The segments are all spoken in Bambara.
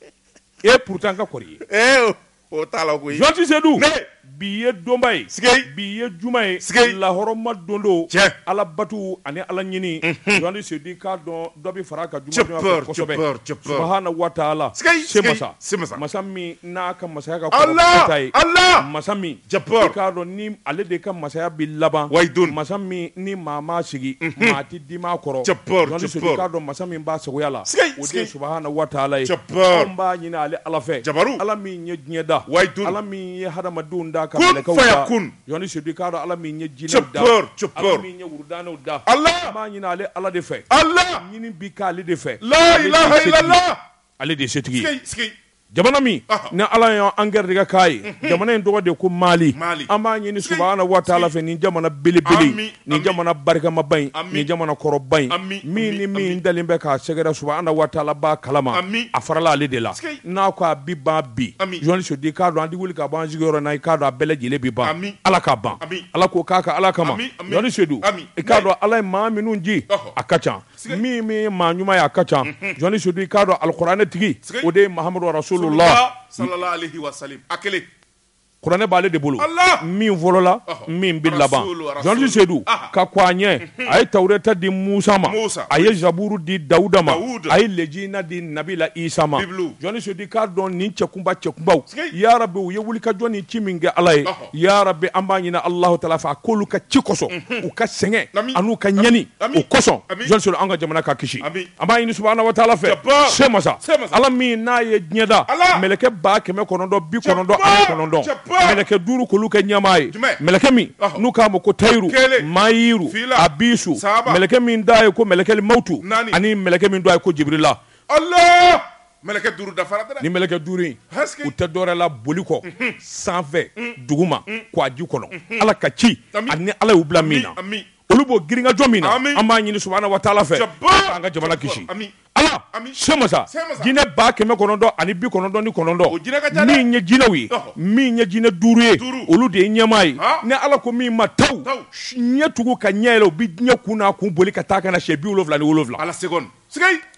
e ye pourtant ka kɔrɔ ye ee o t'a la koyi Jɔnti Sedu ne bi ye donba ye sigei bi ye juma ye sigei lahɔrɔma don don tiɲɛ Ala batu ani Ala ɲini Jɔnti Sedu i k'a dɔn dɔ bɛ far'a ka juma donya fɛ kosɛbɛ cɔpɔr cɔpɔr subahana wataala sigei semasa semasa masa min n'a ka masaya ka kɔrɔ Alaa ta ye Alaa masa min cɔpɔr i k'a dɔn ni ale de ka masaya bɛ laban wayi doni masa min ni maa m'a sigi maa ti Di ma kɔrɔ Jɔnti Sedu i k'a dɔn masa min b'a sagoya la o de subahana wataala ye an b'a ɲini ale ala fɛ jabaru ala min ye diɲɛ da wayi doni ala min ye hadamadenw da ka kun Jɔnti Sedu i k'a dɔn ala min ye jinɛw da ala min ye wurudaniw da ala an b'a ɲini ale ala de fɛ ala ɲini bɛ k'ale de fɛ la ale de ye setigi Jamana min ni ala y'an garijɛgɛ k'a ye jamana in tɔgɔ de ko mali an b'a ɲini subahana wataala fɛ nin jamana belebele nin jamana barikamaba in nin jamana kɔrɔba in min ni min dalen bɛ k'a sɛgɛrɛ subahana wataala b'a kalama a farala ale de la n'a ko a bi ban bi jɔnni sedu i k'a dɔn an tɛ wuli ka bɔ an sigiyɔrɔ na i k'a dɔn a bɛɛ lajɛlen bɛ ban ala k'a ban ala k'o k'a ka ala kama jɔnni sedu i k'a dɔn ala ye maa minnu ji a ka ca min min ye maa ɲuman ye a ka ca jɔnni sedu i k'a dɔn alikuranɛ tigi o de ye mahamadu rasulula a kelen kuranɛ b'ale de bolo min fɔlɔla min bɛ laban jɔnni sedu ka kɔn a ɲɛ a ye tawureta di musa ma a ye zaburu di dawuda ma a ye lejina di nabila isa ma jɔnni sedu i k'a dɔn nin cɛkunba cɛkunbaw ya rabi u ye wulikajɔ ni ci min kɛ ala ye ya rabi an b'a ɲini alahu taala fɛ a k'olu ka ci kosɔn u ka sɛgɛn ani u ka ɲani o kosɔn jɔnni sedu an ka jamana ka kisi an b'a ɲini subahana wataala fɛ semasa ala min n'a ye diɲɛ da mɛlɛkɛ ba kɛmɛ kɔnɔntɔn bi kɔnɔntɔn ani kɔnɔntɔn mɛlɛkɛ duuru k'olu kɛ ɲɛmaa ye mɛlɛkɛ min n'u k'a ma ko tayiru mayiru abisu mɛlɛkɛ min tɔgɔ ye ko mɛlɛkɛli mawtu ani mɛlɛkɛ min tɔgɔ ye ko jibirila Mɛlɛkɛ duuru dafara dɛ, ni mɛlɛkɛ duuru in, u tɛ dɔwɛrɛ la boli kɔ, unhun, sanfɛ, un, duguma, un, kɔji kɔnɔ, unhun, Ala ka ci ani Ala y'u bila min na, amin, olu b'o girinkajɔ min na, amin, an b'a ɲini subahana wataala fɛ, jabaa, an ka jamana kisi, amin, Ala, amin, Semasa, Semasa, jinɛ ba kɛmɛ kɔnɔntɔn ani bi kɔnɔntɔn ni kɔnɔntɔn, o jinɛ ka ca dɛ, min ye jinɛw ye, ɔhɔ, min ye jinɛ duuru ye, duuru, olu de ye ɲɛmaa ye, haa, ni Ala ko min ma taw, taw, ɲɛ tugu ka ɲɛ yɛlɛ u bɛ diɲɛ kun n'a kun boli ka taa ka na siɲɛ bi wolonwula ni wolonwula, Ala sekɔni, sikei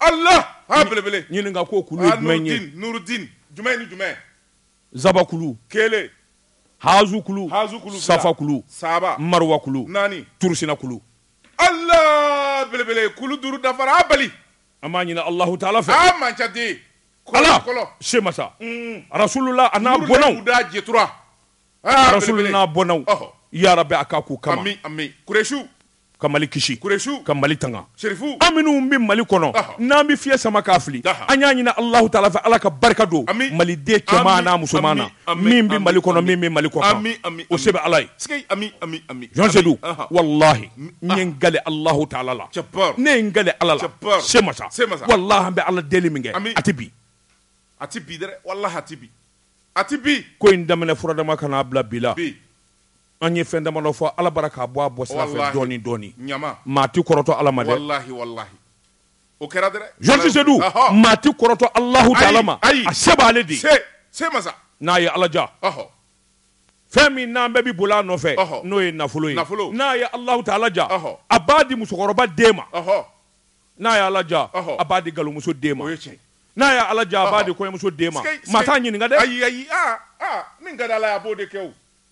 Ala ha belebele ɲininka ko kulu ye jumɛn ye nurudin jumɛn ni jumɛn zabakulu kelen hazukulu hazukulu safakulu saba mariwakulu naani turusinakulu ala belebele kulu duuru dafara bali an b'a ɲini alahu taala fɛ a man ca dɛ ala fɔlɔ semasa rasulula a n'a bɔnnaw da jɛtura rasulula n'a bɔnnaw ya rabi a k'a k'u kama kuresiw ka mali kisi kuresiw ka mali tanga serifu an minnu bɛ mali kɔnɔ n'an bɛ fiɲɛ sama k'a fili an y'a ɲini alahu taala fɛ ala ka barika don maliden cɛman n'a musoman na min bɛ mali kɔnɔ min bɛ mali kɔkan o se bɛ ala ye jɔnsedu walahi n ye n gale alahu taala la ne ye n gale ala la se masa walahi an bɛ ala deli min kɛ a tɛ bi a tɛ bi dɛ walahi a tɛ bi a tɛ bi ko in daminɛ furadama ka n'a bila bi la An ye fɛn damadɔ fɔ Ala bara k'a bɔ a bɔ sira fɛ Walahi dɔɔni dɔɔni ɲama maa ti kɔrɔtɔ Ala ma dɛ walahi walahi o kɛra dɛrɛ Jean Seydou ɔhɔ maa ti kɔrɔtɔ Alahu taala ma ayi a se b'ale de ye se masa n'a ye Ala ja ɔhɔ fɛn min n'an bɛɛ bi boli a nɔfɛ ɔhɔ n'o ye nafolo ye nafolo n'a ye Alahu taala ja ɔhɔ a b'a di musokɔrɔba den ma ɔhɔ n'a ye Ala ja ɔhɔ a b'a di galomuso den ma o ye tiɲɛ n'a ye Ala ja a b'a di kɔɲɔmuso den ma sikeyi maa t'a ɲininka dɛ ayi ayi aa aa min ka di Ala ye a b'o de kɛ o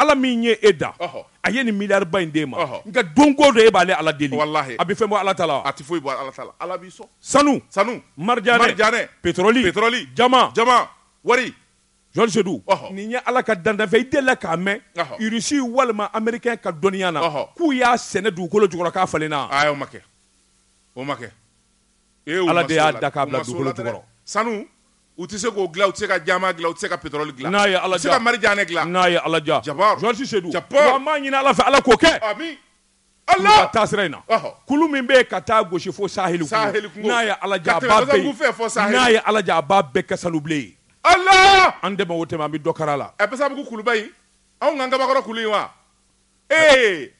ala min ye e da a ye nin miliyariba in d'e ma nka don ko don e b'ale ala deli a bɛ fɛn bɔ ala ta la a tɛ foyi bɔ ala ta la sanu marijanɛ petroli jaman jaman wari jɔnsedu nin ye ala ka dantanfɛn i delila k'a mɛn irisi walima ameriken ka dɔnniya na k'u y'a sɛnɛ dugukolo jukɔrɔ k'a falenna a ma kɛ o ma kɛ e ala de y'a da k'a bila dugukolo jukɔrɔ sanu U tɛ se k'o dilan u tɛ se ka jaman dilan u tɛ se ka pétrole dilan, n'a ye Ala diya, u tɛ se ka marijanɛ dilan, n'a ye Ala diya, jabaaru, Jean Sedu, jabaaru, wa an b'a ɲini Ala fɛ Ala k'o kɛ, amin, Ala, ka taasira in na, ɔhɔ, kulu min bɛ yen ka taa gosi fo saheli kungo, n'a ye Ala diya a b'a bɛɛ ye, n'a ye Ala diya a b'a bɛɛ kɛ sanubilen ye, Ala, an dɛmɛ o tɛmɛn an bɛ dɔ kari a la, ɛ Basabugu kuluba in anw ka Ngabakɔrɔ kulu in wa, ee,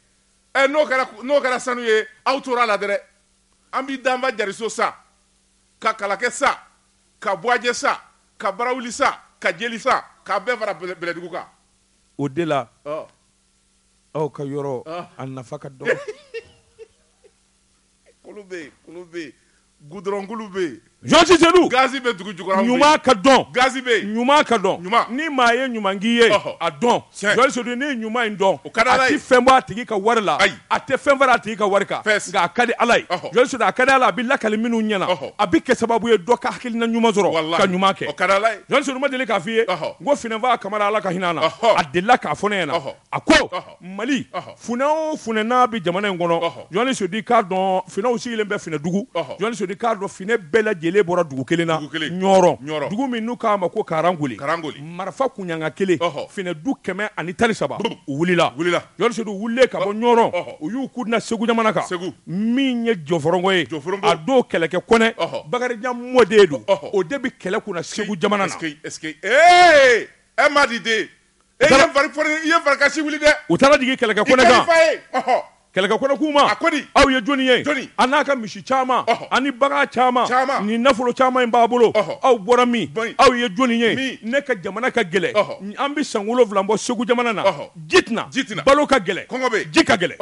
ɛ n'o kɛra n'o kɛra sanu ye aw tora a la dɛrɛ, an bɛ Danfa Jariso sa ka kalakɛ sa ka buwajɛ sa ka barawuli sa ka jeli sa k'a bɛɛ fara bɛlɛdugu kan o de la aw ka yɔrɔ a nafa ka dɔgɔ kulu bɛ yen gudɔrɔn kulu bɛ yen jɔnsedu gazi bɛ dugu jukɔrɔ ɲuman ka dɔn gazi bɛ yen ɲuman ka dɔn ɲuman ni maa ye ɲuman k'i ye a dɔn Sedu ne ye ɲuman in dɔn o ka di ala ye a tɛ fɛn bɔ a tigi ka wari la ayi a tɛ fɛn fara a tigi ka wari kan nka a ka di ala ye sedu a ka di ala a bɛ lakali minnu ɲɛna a bɛ kɛ sababu ye dɔ ka hakilina ɲuman sɔrɔ ka ɲuman kɛ sedu ma deli k'a fɔ i ye ko funɛnfa kamara ala ka hinɛ na a delila k'a fɔ ne ɲɛna a ko mali funɛ o funɛ n'a bɛ jamana in kɔnɔ sedu k'a dɔn funɛw sigilen bɛ funɛdugu sedu k'a dɔn funɛ bɛɛ lajɛlen bɔra dugu kelen na dugu min n'u k'a ma ko karangoli marifa kunɲaga kelen finɛdu kɛmɛ ani tan ni saba u wulila jɔnsedu wulilen ka bɔ ɲɔrɔ u y'u kun da segu jamana kan segu min ye jɔfɔrɔngɔ ye a don kɛlɛkɛ kɔnɛ bakarijan mɔden don o de bɛ kɛlɛ kunna segu jamana na e madi den i ye farikansi wuli dɛ u taara jigin kɛlɛkɛ kɛlɛkɛ kɔnɛ kuma a ko aw ye jɔnni ye jɔnni a n'a ka misi caman ani bagan caman caman ni nafolo caman in b'a bolo aw bɔra min aw ye jɔnni ye ne ka jamana ka gɛlɛ an bɛ san wolonwula bɔ segu jamana na ji tɛ na ji tɛ na balo ka gɛlɛ kɔngɔ bɛ ji ka gɛlɛ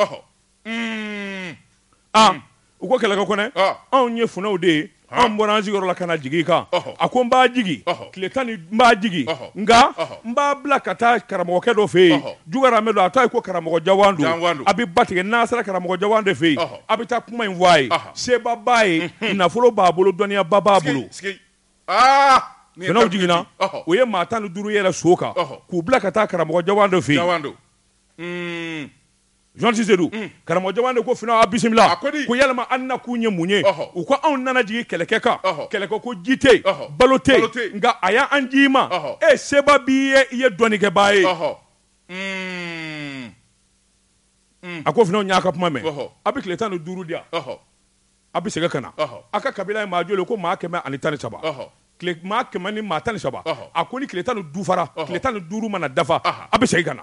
aa U ko kɛlɛkɛ kɔnɛ anw ye funɛw de ye anw bɔra an sigiyɔrɔ la ka na jigin i kan a ko n b'a jigin tile tan ni n b'a jigin nka n b'a bila ka taa karamɔgɔkɛ dɔ fɛ yen jugaramɛ don a tɔgɔ ko karamɔgɔ jawandu a bɛ ba tigɛ n'a sera karamɔgɔ jawandu fɛ yen a bɛ taa kuma in fɔ a ye seba b'a ye nafolo b'a bolo dɔnniyaba b'a bolo funɛw jiginna u ye maa tan ni duuru yɛlɛn so kan k'u bila ka taa karamɔgɔ jawandu fɛ yen jawandu jan sedu karamɔgɔ jawandu ko funɛw a' bisimila ko ya a' nakun ye mun ye u ko anw nana jigin kɛlɛkɛ kan kɛlɛkɛ ko ji tɛ balo tɛ nka a y' an ci i ma e seba b'i ye i ye dɔnnikɛbaa ye a ko funɛw y'a ka kuma mɛn a bɛ tile tan ni duuru di yan a bɛ segin ka na a ka kabila ye maa joli ko maa kɛmɛ ani tan ni saba kɛmɛ ni maa tan ni saba a ko ni tile tan ni duuru fara tan ni duuru mana dafa a bɛ segin ka na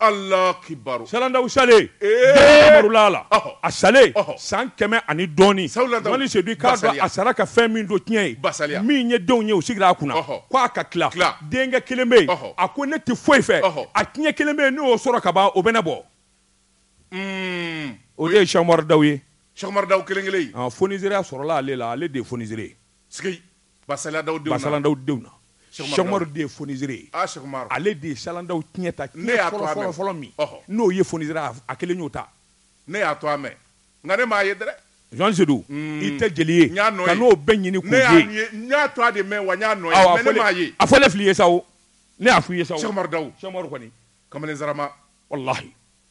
Ala kibaru Salandaw salen la a salen san kɛmɛ ani dɔɔnin sedu a sara ka fɛn min to tiɲɛ ye min ye denw ye u sigira a kunna k' a ka tila denkɛ kelen bɛ yen a ko ne tɛ foyi fɛ a tiɲɛ kelen bɛ yen n'o sɔrɔ ka ban o bɛ ne bɔ o ye sɛkumaru daw ye sɛkumaru daw kelen foniseere sɔrɔla ale la ale de foniseere basalandaw basalandaw denw na sɛkumaru de ye foniseere ye ale de ye salandaw tiɲɛ ta fɔlɔ min n'o ye foniseere a kelen y'o ta ne y'a tɔgɔ mɛn nka ne m'a ye dɛ jan sedu i tɛ jeli ye n'o bɛɛ ɲini n y'a tɔgɔ de mɛn wa n y'a nɔ ye a fɔlen filɛ i ye sa ne y'a fɔ i ye sa umaru daw kɔni kamalen zarama walahi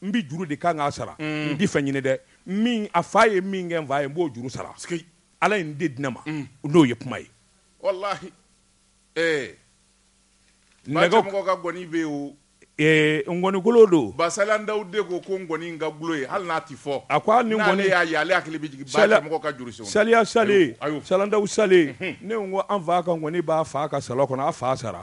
N bɛ juru de kan k'a sara n tɛ fɛn ɲini dɛ min a fa ye min kɛ n fa ye n b'o juru sara Ala ye min de di ne ma n'o ye kuma ye walahi ee nɛgɛ mɔgɔ ka ngɔni bɛ o ee ngɔnikolo don Basalan Daw de ko ko ngɔni in ka dulon yen hali n'a tɛ fɔ a ko hali ni ngɔni y'a ye ale hakili bɛ jigin Basalan mɔgɔ ka juru senw na saliya salen Basalan Daw salen ne ko an fa ka ngɔni b'a fa ka salɔn kɔnɔ a fa sara.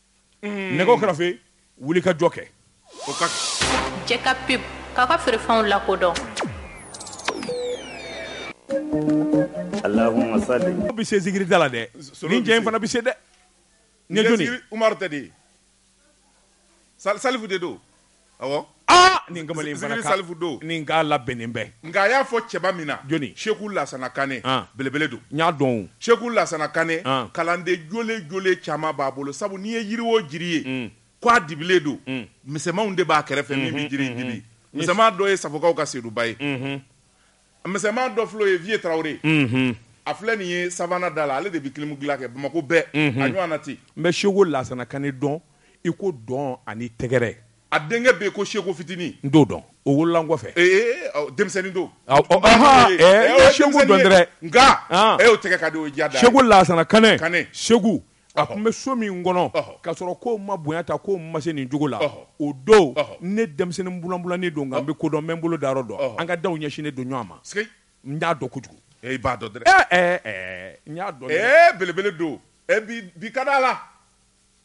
mm. nɛgɛw kɛrɛfɛ wuli ka jɔ kɛ o ka jɛ ka pub k'a ka feerefɛnw lakodɔn Allahumma salli bi se zikiri da la dɛ nin cɛ in fana bi se dɛ ne doni Umar tɛ dɛ salifu de don nin kamalen salifu don nin k'a labɛnnen bɛɛ nka a y'a fɔ cɛba min na jɔnni seku lasana kane belebele don n y'a dɔn seku lasana kane kalanden jolen jolen caman b'a bolo sabu n'i ye yiri o jiri ye k' a dibilen don misɛnmanw de b'a kɛrɛfɛ min bɛ jiri dibi misɛnman dɔ ye safokaw ka seduba ye Misɛnman dɔ filɛ o ye Vieux Traore unhun a filɛ nin ye Savana da la ale de bɛ kilimu dilan kɛ Bamako bɛɛ unhun a ɲɔɔnna tɛ yen n bɛ Seko Lasana Kane dɔn i ko dɔn ani tɛgɛrɛ a denkɛ bɛ yen ko Seko fitini n t'o dɔn o wolola n kɔfɛ ee ɔ denmisɛnni don ɔ ɔ ɔnhɔn ee ee n ye Seko dɔn dɛrɛ nka ee o tɛgɛ ka di o ye diya dan ye Seko Lasana Kane Kane Seku a tun bɛ so min kɔnɔ k'a sɔrɔ ko n ma bonya tan ko n ma se nin cogo la o don ne denmisɛnnin bulanbulannin don nka n bɛ ko dɔn n bɛ n bolo dayɔrɔ dɔn an ka daw ɲɛsinnen don ɲɔgɔn ma n y'a dɔn kojugu e b'a dɔn dɛ n y'a dɔn belebele don bi ka d'a la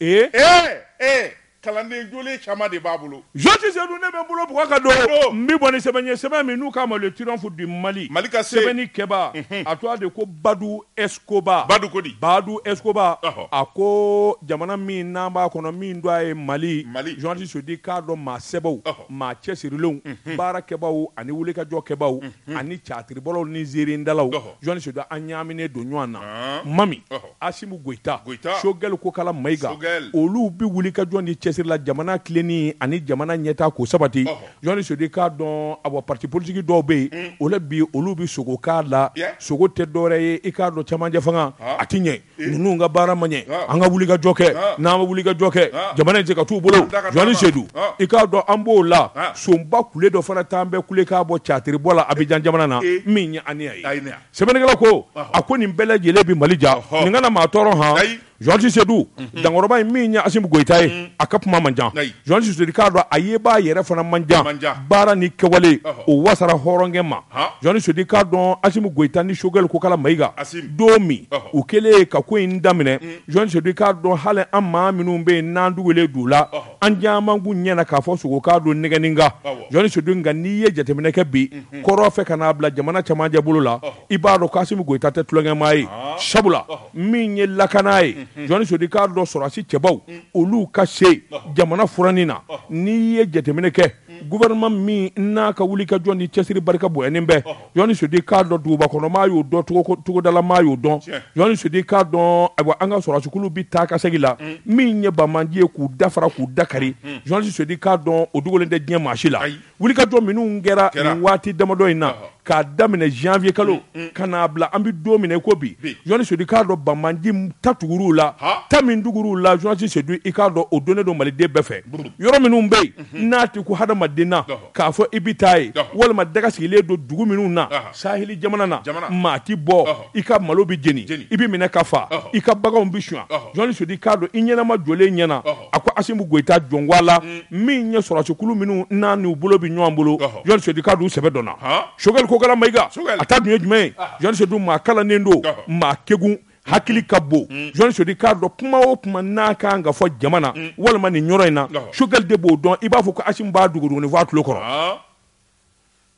ee Kalanden jolen caman de b'a bolo. Journaliste Seydou ne bɛ n bolo bugɔ ka don n bɛ bɔ ni sɛbɛn ye sɛbɛn min n'u k'a ma le triomphe du Mali, Mali ka se, sɛbɛnni kɛbaa, unhun, a tɔgɔ de ko Badou Escobar, Badou ko di? Badou Escobar, ɔhɔ, a ko jamana min n'an b'a kɔnɔ min tɔgɔ ye Mali, Mali, journaliste Seydou k'a dɔn maa sɛbɛw, ɔhɔ, maa cɛsirilenw, unhun, baara kɛbaaw ani wulikajɔ kɛbaaw, unhun, ani catiribɔlaw ni nseerendalaw, ɔhɔ, journaliste Seydou an ɲaaminen don ɲɔgɔn na, ɔnn, Mami, ɔhɔ. Asimu Goyita, Goyita, Choguel Kokala Mayiga, Choguel, olu bɛ wulikajɔ ni cɛsiri la jamana tilenni ani jamana ɲɛtaa ko sabati. Ɔhɔ. Journaliste Sedu k'a dɔn a bɔ parti politique dɔw bɛ yen, o la bi olu bɛ sogo k'a la, Yeah. sogo tɛ dɔwɛrɛ ye i k'a dɔn cɛmancɛfanga Haa. a tɛ ɲɛ, Ee. ninnu ka baara ma ɲɛ, Haa. an ka wulikajɔ kɛ, Haa. n'an ma wulikajɔ kɛ, Haa. jamana in tɛ se ka t'u bolo, An da ka journaliste taama. Sedu, Haa. i k'a dɔn an b'o la, Haa. sonba kule dɔ fana tun bɛ kule ka bɔ catiribɔ la Abijan jamana na, Ee. min ye Ainea ye. Ainea. sɛbɛnnikɛla ko a ko nin bɛɛ lajɛlen bɛ mali ja nin kana maa tɔɔrɔ hɔn journaliste sedu dankɔrɔba in min ye asimu goyita ye a ka kuma man ca journaliste sedu k'a dɔn a yebaa yɛrɛ fana man ca baara ni kɛwale o wasara hɔrɔnkɛ ma journaliste sedu k'a dɔn asimu goyita ni sogɛli kokala mayiga don min u kɛlen ka ko in daminɛ journaliste sedu k'a dɔn hali an maa minnu bɛ yen n'an tugulen d'u la an caman kun ɲɛna k'a fɔ sogo k'a don nɛgɛnin kan journaliste sedu nka n'i ye jateminɛ kɛ bi kɔrɔn fɛ ka n'a bila jamana camancɛ bolo la i b'a dɔn k'Asimu Goyita tɛ tulonkɛmaa ye sabula min ye lakana ye journaliste sedu k'a dɔn sɔrɔdasi cɛbaw olu ka se jamana furanni na n'i ye jateminɛ kɛ gouvernement min n'a ka wulikajɔ ni cɛsiri barika bonyalen bɛ journaliste sedu k'a dɔn duguba kɔnɔ maa y'o dɔn togodala maa y'o dɔn journaliste sedu k'a dɔn ayiwa an ka sɔrɔdasikulu bɛ taa ka segin la mm. min ye banbaanci ye k'u dafara k'u dakari mm. journaliste sedu k'a dɔn o dogolen tɛ diɲɛ maa si la wulikajɔ minnu kɛra nin waati damadɔ in na k'a daminɛ janvier kalo mm, mm. ka n'a bila an bɛ don min na i ko bi jɔni sedu k'a dɔn banbaanci ta tugur'u la ta min tugur'u la jɔni sedu i k'a dɔn o dɔnnen don maliden bɛɛ fɛ yɔrɔ minnu bɛ yen mhm. n'a tɛ ko hadamaden na k'a fɔ i bɛ taa yen walima daga sigilen don dugu minnu na saheli jamana na maa ti bɔ i ka malo bɛ jeni i bɛ minɛ ka faa i ka baganw bɛ suɲɛ jɔni sedu k'a dɔn i ɲɛnama jɔlen ɲɛna a ko asimi goyita jɔnwala min ye sɔrɔsikulu minnu n'a n'u bolo bɛ ɲɔgɔn bolo jɔni sedu k'a dɔn u sɛbɛ dɔnna sogɛli kokala mayiga a ta dun ye jumɛn ye jɔni sedu maa kalannen don maa kegun hakili ka bon jɔni sedu k'a dɔn kuma o kuma n'a ka kan ka fɔ jamana walima nin yɔrɔ in na sogɛli de b'o dɔn i b'a fɔ ko asimi b'a duguduguni fɔ a tulo kɔrɔ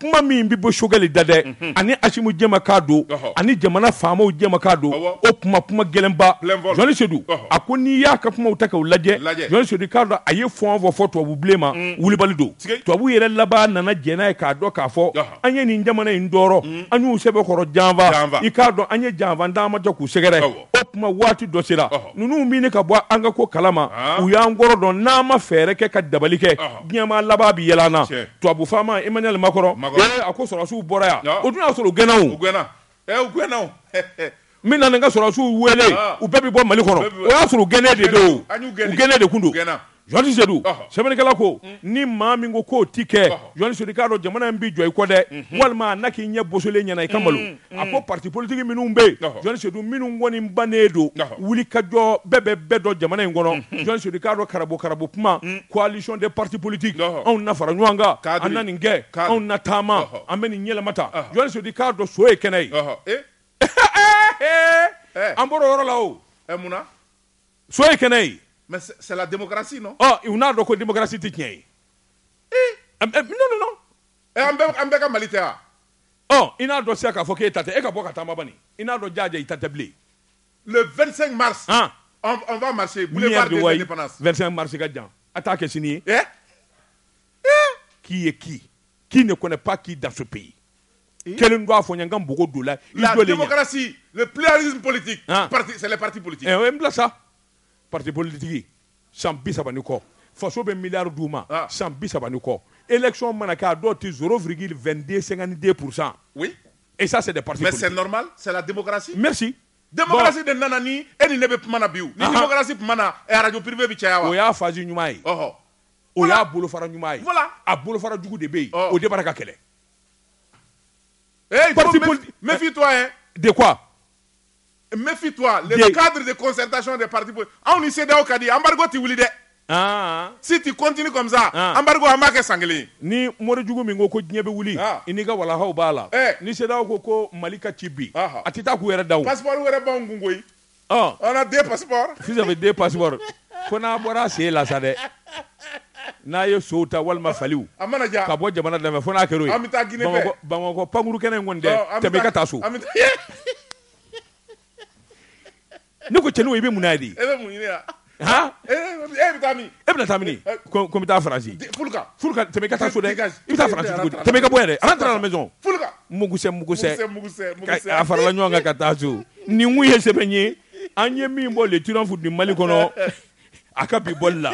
kuma min bɛ bɔ sogɛli da dɛ mhm. ani asimi jɛmakan don ani jamana faamaw jɛmakan don o kuma kuma gɛlɛnba jɔni sedu a ko n'i y'a ka kumaw ta k'u lajɛ jɔni sedu k'a dɔn a ye fɔn fɔ fɔ tubabu bilen ma mm. wulibali don tubabu yɛrɛ laban nana jɛn n'a ye k'a dɔn k'a fɔ an ye nin jamana in tɔɔrɔ mm. an y'u sɛbɛkɔrɔ janfa i k'a dɔn an ye janfa dama jɔ k'u sɛgɛrɛ o tuma waati dɔ sera ninnu min ka bɔ an ka ko kalama u y'an kɔrɔ dɔn n'an ma fɛɛrɛ kɛ ka dabali kɛ diɲɛma laban bɛ yɛlɛ an na tubabu faama Emmanuel Macron a ko sɔrɔsiw bɔra yan o tun y'a sɔrɔ u gɛnna n bɛ na n ka sɔrɔsiw wele u bɛɛ bɛ bɔ mali kɔnɔ o y'a sɔrɔ u gɛnnen de don u gɛnnen de tun don Jɔni sedu sɛbɛnnikɛla ko ni maa min ko k'o ti kɛ jɔni sedu k'a dɔn jamana in bɛ jɔ i kɔ dɛ walima n'a k'i ɲɛ bosolen ɲɛna i ka malo a ko patipolitigi minnu bɛ yen jɔn sedu minnu kɔni bannen don wuli ka jɔ bɛɛ bɛ bɛɛ dɔn jamana in kɔnɔ jɔn sedu k'a dɔn karabu karabu kuma coalition des partis politiques anw na fara ɲɔgɔn kan an na nin kɛ anw na taama an bɛ nin yɛlɛma ta jɔn sedu k'a dɔn so ye kɛnɛ ye an bɔra o yɔrɔ la o munna so ye kɛnɛ ye mais c'est la démocratie non ɔ u n'a dɔn ko démocratie tɛ tiɲɛ ye ee non non non ɛ an bɛɛ an bɛɛ ka Mali tɛ wa ɔ i n'a dɔn sisan k'a fɔ k'e ta tɛ e ka bɔ ka taama bani i n'a dɔn jaaja i ta tɛ bilen le 25 mars han on, on va marcher boulevard de l'indépendance 25 mars ka jan a t'a kɛ sini ye eh eh qui est qui qui ne connaît pas qui dans ce pays kelen don a fɔ n ye n ka npogo don la i la jɔlen ɲɛ. démocratie le pluralisme politique Han. parti c'est les partis politiques Eh, o ye n bila sa parti politiki san bi saba ni kɔ faso bɛ miliyari d'u ma Ah. san bi saba ni kɔ élection mana kɛ a dɔw tɛ zéro virgule 22 52 pourcent oui et ça c'est des partis politiques mais c'est normal c'est la démocratie merci démocratie de nana ni e ni ne bɛ kuma na bi ni Ahan. démocratie tun ma na eh, radio privé bɛ caya wa Bon, o y'a fasi ɲuman ye ɔhɔ o y'a bolofara ɲuman ye Voilà. a bolofara jugu de bɛ yen Ɔ. o de bara ka kɛlɛ Eh, parti politique. Méfie-toi, hein. De quoi Méfie-toi. Le cadre de concertation des partis politiques. Aw ni CEDEAO ka di embargo tɛ wuli dɛ. Ah. Si tu continues comme ça, ah. embargo an b'a kɛ san kelen. Ni mori jugu min ko ko diɲɛ bɛ wuli, ah. i n'i ka walahaw b'a la. Eh. Ni CEDEAO ko ko Mali ka ci bi, a tɛ taa k'u yɛrɛ da o. Passeport wɛrɛ b'anw kun koyi. den pa den pa ko n'a bɔra sen la sa dɛ n'a ye so ta walima fa ka bɔ jamana lamɛn fo n'a bamakɔ pamuru kɛnɛ in tɛmɛ ka taa so ne ko cɛnin i bɛ mun di Aa e bɛ taa min e bɛ taa min ko n bɛ taa Faransi tɛmɛ ka taa so dɛ i bɛ taa Faransi cogo di tɛmɛ ka bɔ yan dɛ rentre à la maison mugusɛ mugusɛ a farala ɲɔgɔn kan ka taa so nin kun ye sɛbɛn ye an ye min bɔ Le Triomphe du Mali kɔnɔ a ka bi bɔli la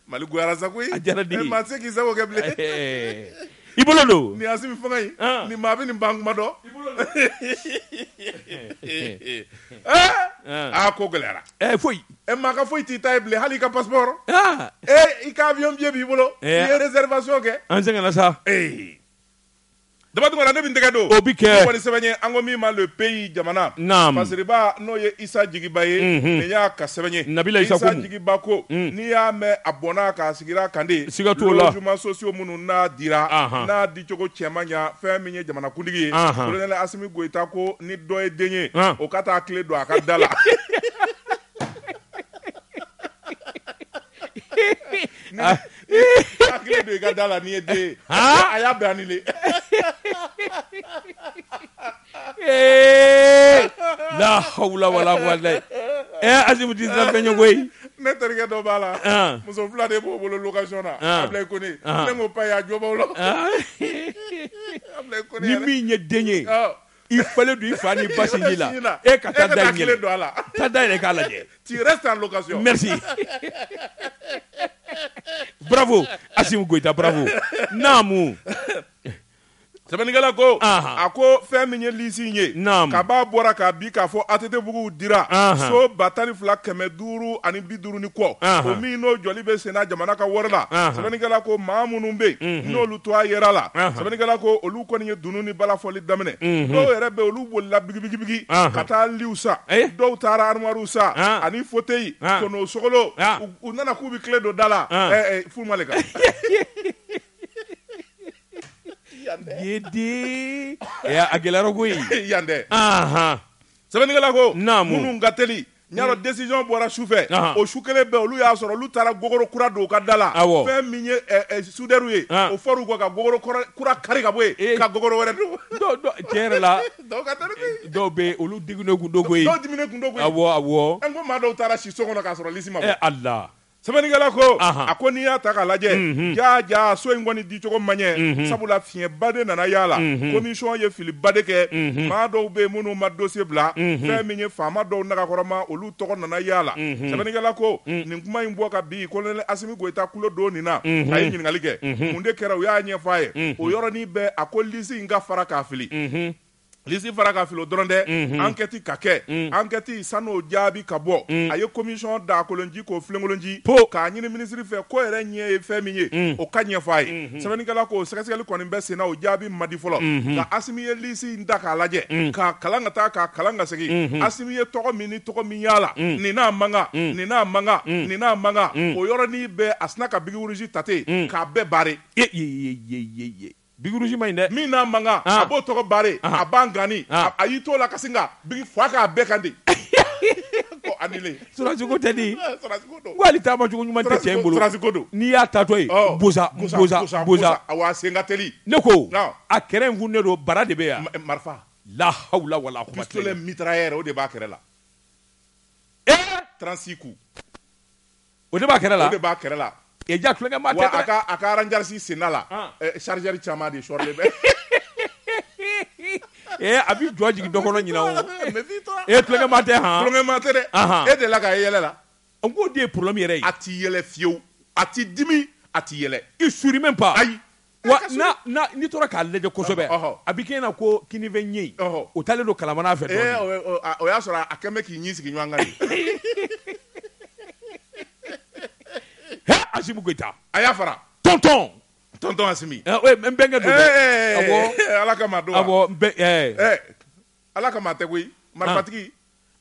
Mali goyara sa a diyara maa tɛ se k'i sago kɛ bilen I bolo don nin Asimi fanga ye nin maa bɛ nin ban kuma dɔn aa ko gɛlɛyara e foyi e maa ka foyi t'i ta ye bilen hali i ka passeport ee i ka avion billet b'i bolo i ye réservation kɛ an sɛgɛnna sa ee daba dɔgɔ ne bɛ n tɛgɛ don o bɛ kɛ wali sɛbɛn ye an ko min ma Le Pays jamana naamu masiriba n'o ye Isa Jigiba ye nin y'a ka sɛbɛn ye nabila Isa Jigiba ko n'i y'a mɛn a bɔnna k'a sigira kan de siga t'o la logements sociaux minnu n'a dira n'a dicogo cɛ ma ɲɛ fɛn min ye jamanakuntigi ye kolonɛli Asimi Goyita ko ni dɔ ye den ye o ka taa kile don a ka da la kile don i ka da la n'i ye den ye a y'a bɛɛ annulé ee la hawla wala quwwata ee Asimi tɛ siran fɛn ɲɛ koyi ne terikɛ dɔ b'a la An. muso fila de b'o bolo location na An. Ablaye Kone An. ne ko pa y'a jɔ b'aw la Ah, Ablaye Kone ni yɛrɛ. min ye den ye Ɔ, i falen don i fa ni ba sinji la sinji e ka taa da i kile don a ɲɛ la taa da yɛlɛ k'a lajɛ tu restes en location merci bravo Asimi Goyita bravo naamu sɛbɛnnikɛla ko a ko fɛn min ye lisi ye ka b'a bɔra k'a bi k'a fɔ ATTbugu dira so ba tan ni fila kɛmɛ duuru ani bi duuru ni kɔ o min n'o jɔli bɛ senna jamana ka wari la sɛbɛnnikɛla ko maa minnu bɛ yen n'olu to a yɛrɛ la sɛbɛnnikɛla ko olu kɔni ye dunun ni balafɔli daminɛ dɔw yɛrɛ bɛ olu bolila bigibigibigi ka taa litw san dɔw taara armoirew san ani fauteuil kɔnɔ sogolon u nana k'u bɛ kile don da la fu ma Yedi a gɛlɛyara koyi yan dɛ sɛbɛnnikɛla ko minnu ka teli ɲa rɔ décision bɔra su fɛ o su kelen bɛɛ olu y'a sɔrɔ olu taara gogoro kura don u ka da la fɛn min ye soudeurw ye o fɔr'u kɔ ka gogoro kura kari ka bɔ yen ka gogoro wɛrɛ don tiɲɛ yɛrɛ la dɔw bɛ olu diminen tun don koyi awɔ ko maa dɔw taara si so kɔnɔ k'a sɔrɔ lisi ma bɔ Ala sɛbɛnnikɛla ko a ko n'i y'a ta k'a lajɛ jaa jaa so in kɔni dicogo ma ɲɛ sabula fiɲɛba de nana y'a la komisɔn ye filiba de kɛ maa dɔw bɛ minnu ma dosiye bila fɛn min ye faama dɔw nagakɔrɔma olu tɔgɔ nana y'a la sɛbɛnnikɛla ko nin kuma in bɔ ka bi kolonɛli Asimi Goyita tulo don nin na a ye ɲininkali kɛ mun de kɛra u y'a ɲɛfɔ a ye o yɔrɔnin bɛɛ a ko lisi in ka fara k'a fili lisi fara k'a fili o dɔrɔn tɛ ankɛti ka kɛ ankɛti sani o jaabi ka bɔ a ye komisɔn daa kolon ci k'o filen kolon ci ko k'a ɲini minisiri fɛ k'o yɛrɛ ɲɛ ye fɛn min ye o k'a ɲɛfɔ a ye sɛbɛnnikɛla ko sɛgɛsɛgɛli kɔni bɛ senna o jaabi ma di fɔlɔ nka Asimi ye lisi in ta k'a lajɛ k'a kalan ka taa k'a kalan ka segin Asimi ye tɔgɔ min ni tɔgɔ min y'a la nin n'a man kan nin n'a man kan nin n'a man kan o yɔrɔnin bɛɛ a sina ka biki rouge ta ten k'a bɛɛ barrer Biki rouge man ɲi dɛ min n'a man kan ah. a b'o tɔgɔ barrer ah. a b'an ganni ah. a y'i t'o la ka sin ka biki fa k'a bɛɛ kan de ko annulé sɔrɔdasiko tɛ di ko hali taama cogo ɲuman tɛ cɛ in bolo sɔrɔdasiko don n'i y'a taatɔ ye oh. boza boza boza awa sen ka teli ne ko a kɛrɛ in kun ne don bara de bɛ yan marifa la hawla wala kuwata pistolet mitrailleur o de b'a kɛrɛ la ee eh! 36 coups O de b'a kɛrɛ la o de b'a kɛrɛ la e jaa tulonkɛmaa tɛ a ka rangers senda la chargeur caman de sɔrɔlen bɛ ee a b'i jɔ jigin dɔ kɔnɔ ɲin e tulonkɛmaa tɛ tulonkɛmaa tɛ dɛ e de la k'a yɛlɛ la n k'o de ye problème yɛrɛ ye a tɛ yɛlɛ fiyewu a tɛ dimi a tɛ yɛlɛ il sourit même pas ayi Wa n'a- n'a- n'i tora k'a lajɛ kosɛbɛ Ɔhɔ. a bɛ kɛ i ɲɛ na ko kininfɛ ɲɛ in Ɔhɔ. o taalen don kalamana fɛ Ee, dɔɔnin. o ye- o- a- o y'a sɔrɔ a kɛlen bɛ k'i ɲin sigi ɲɔgɔn kan de. Hɛ, Asimi Goyita a y'a fara tɔntɔn tɔntɔn asimi ɛ, o ye n bɛnkɛ don dɛ. Ee, Awɔ. ala kama a don wa? Awɔ, n bɛ- ɛ, Ɛ, ala kama a tɛ koyi marifatigi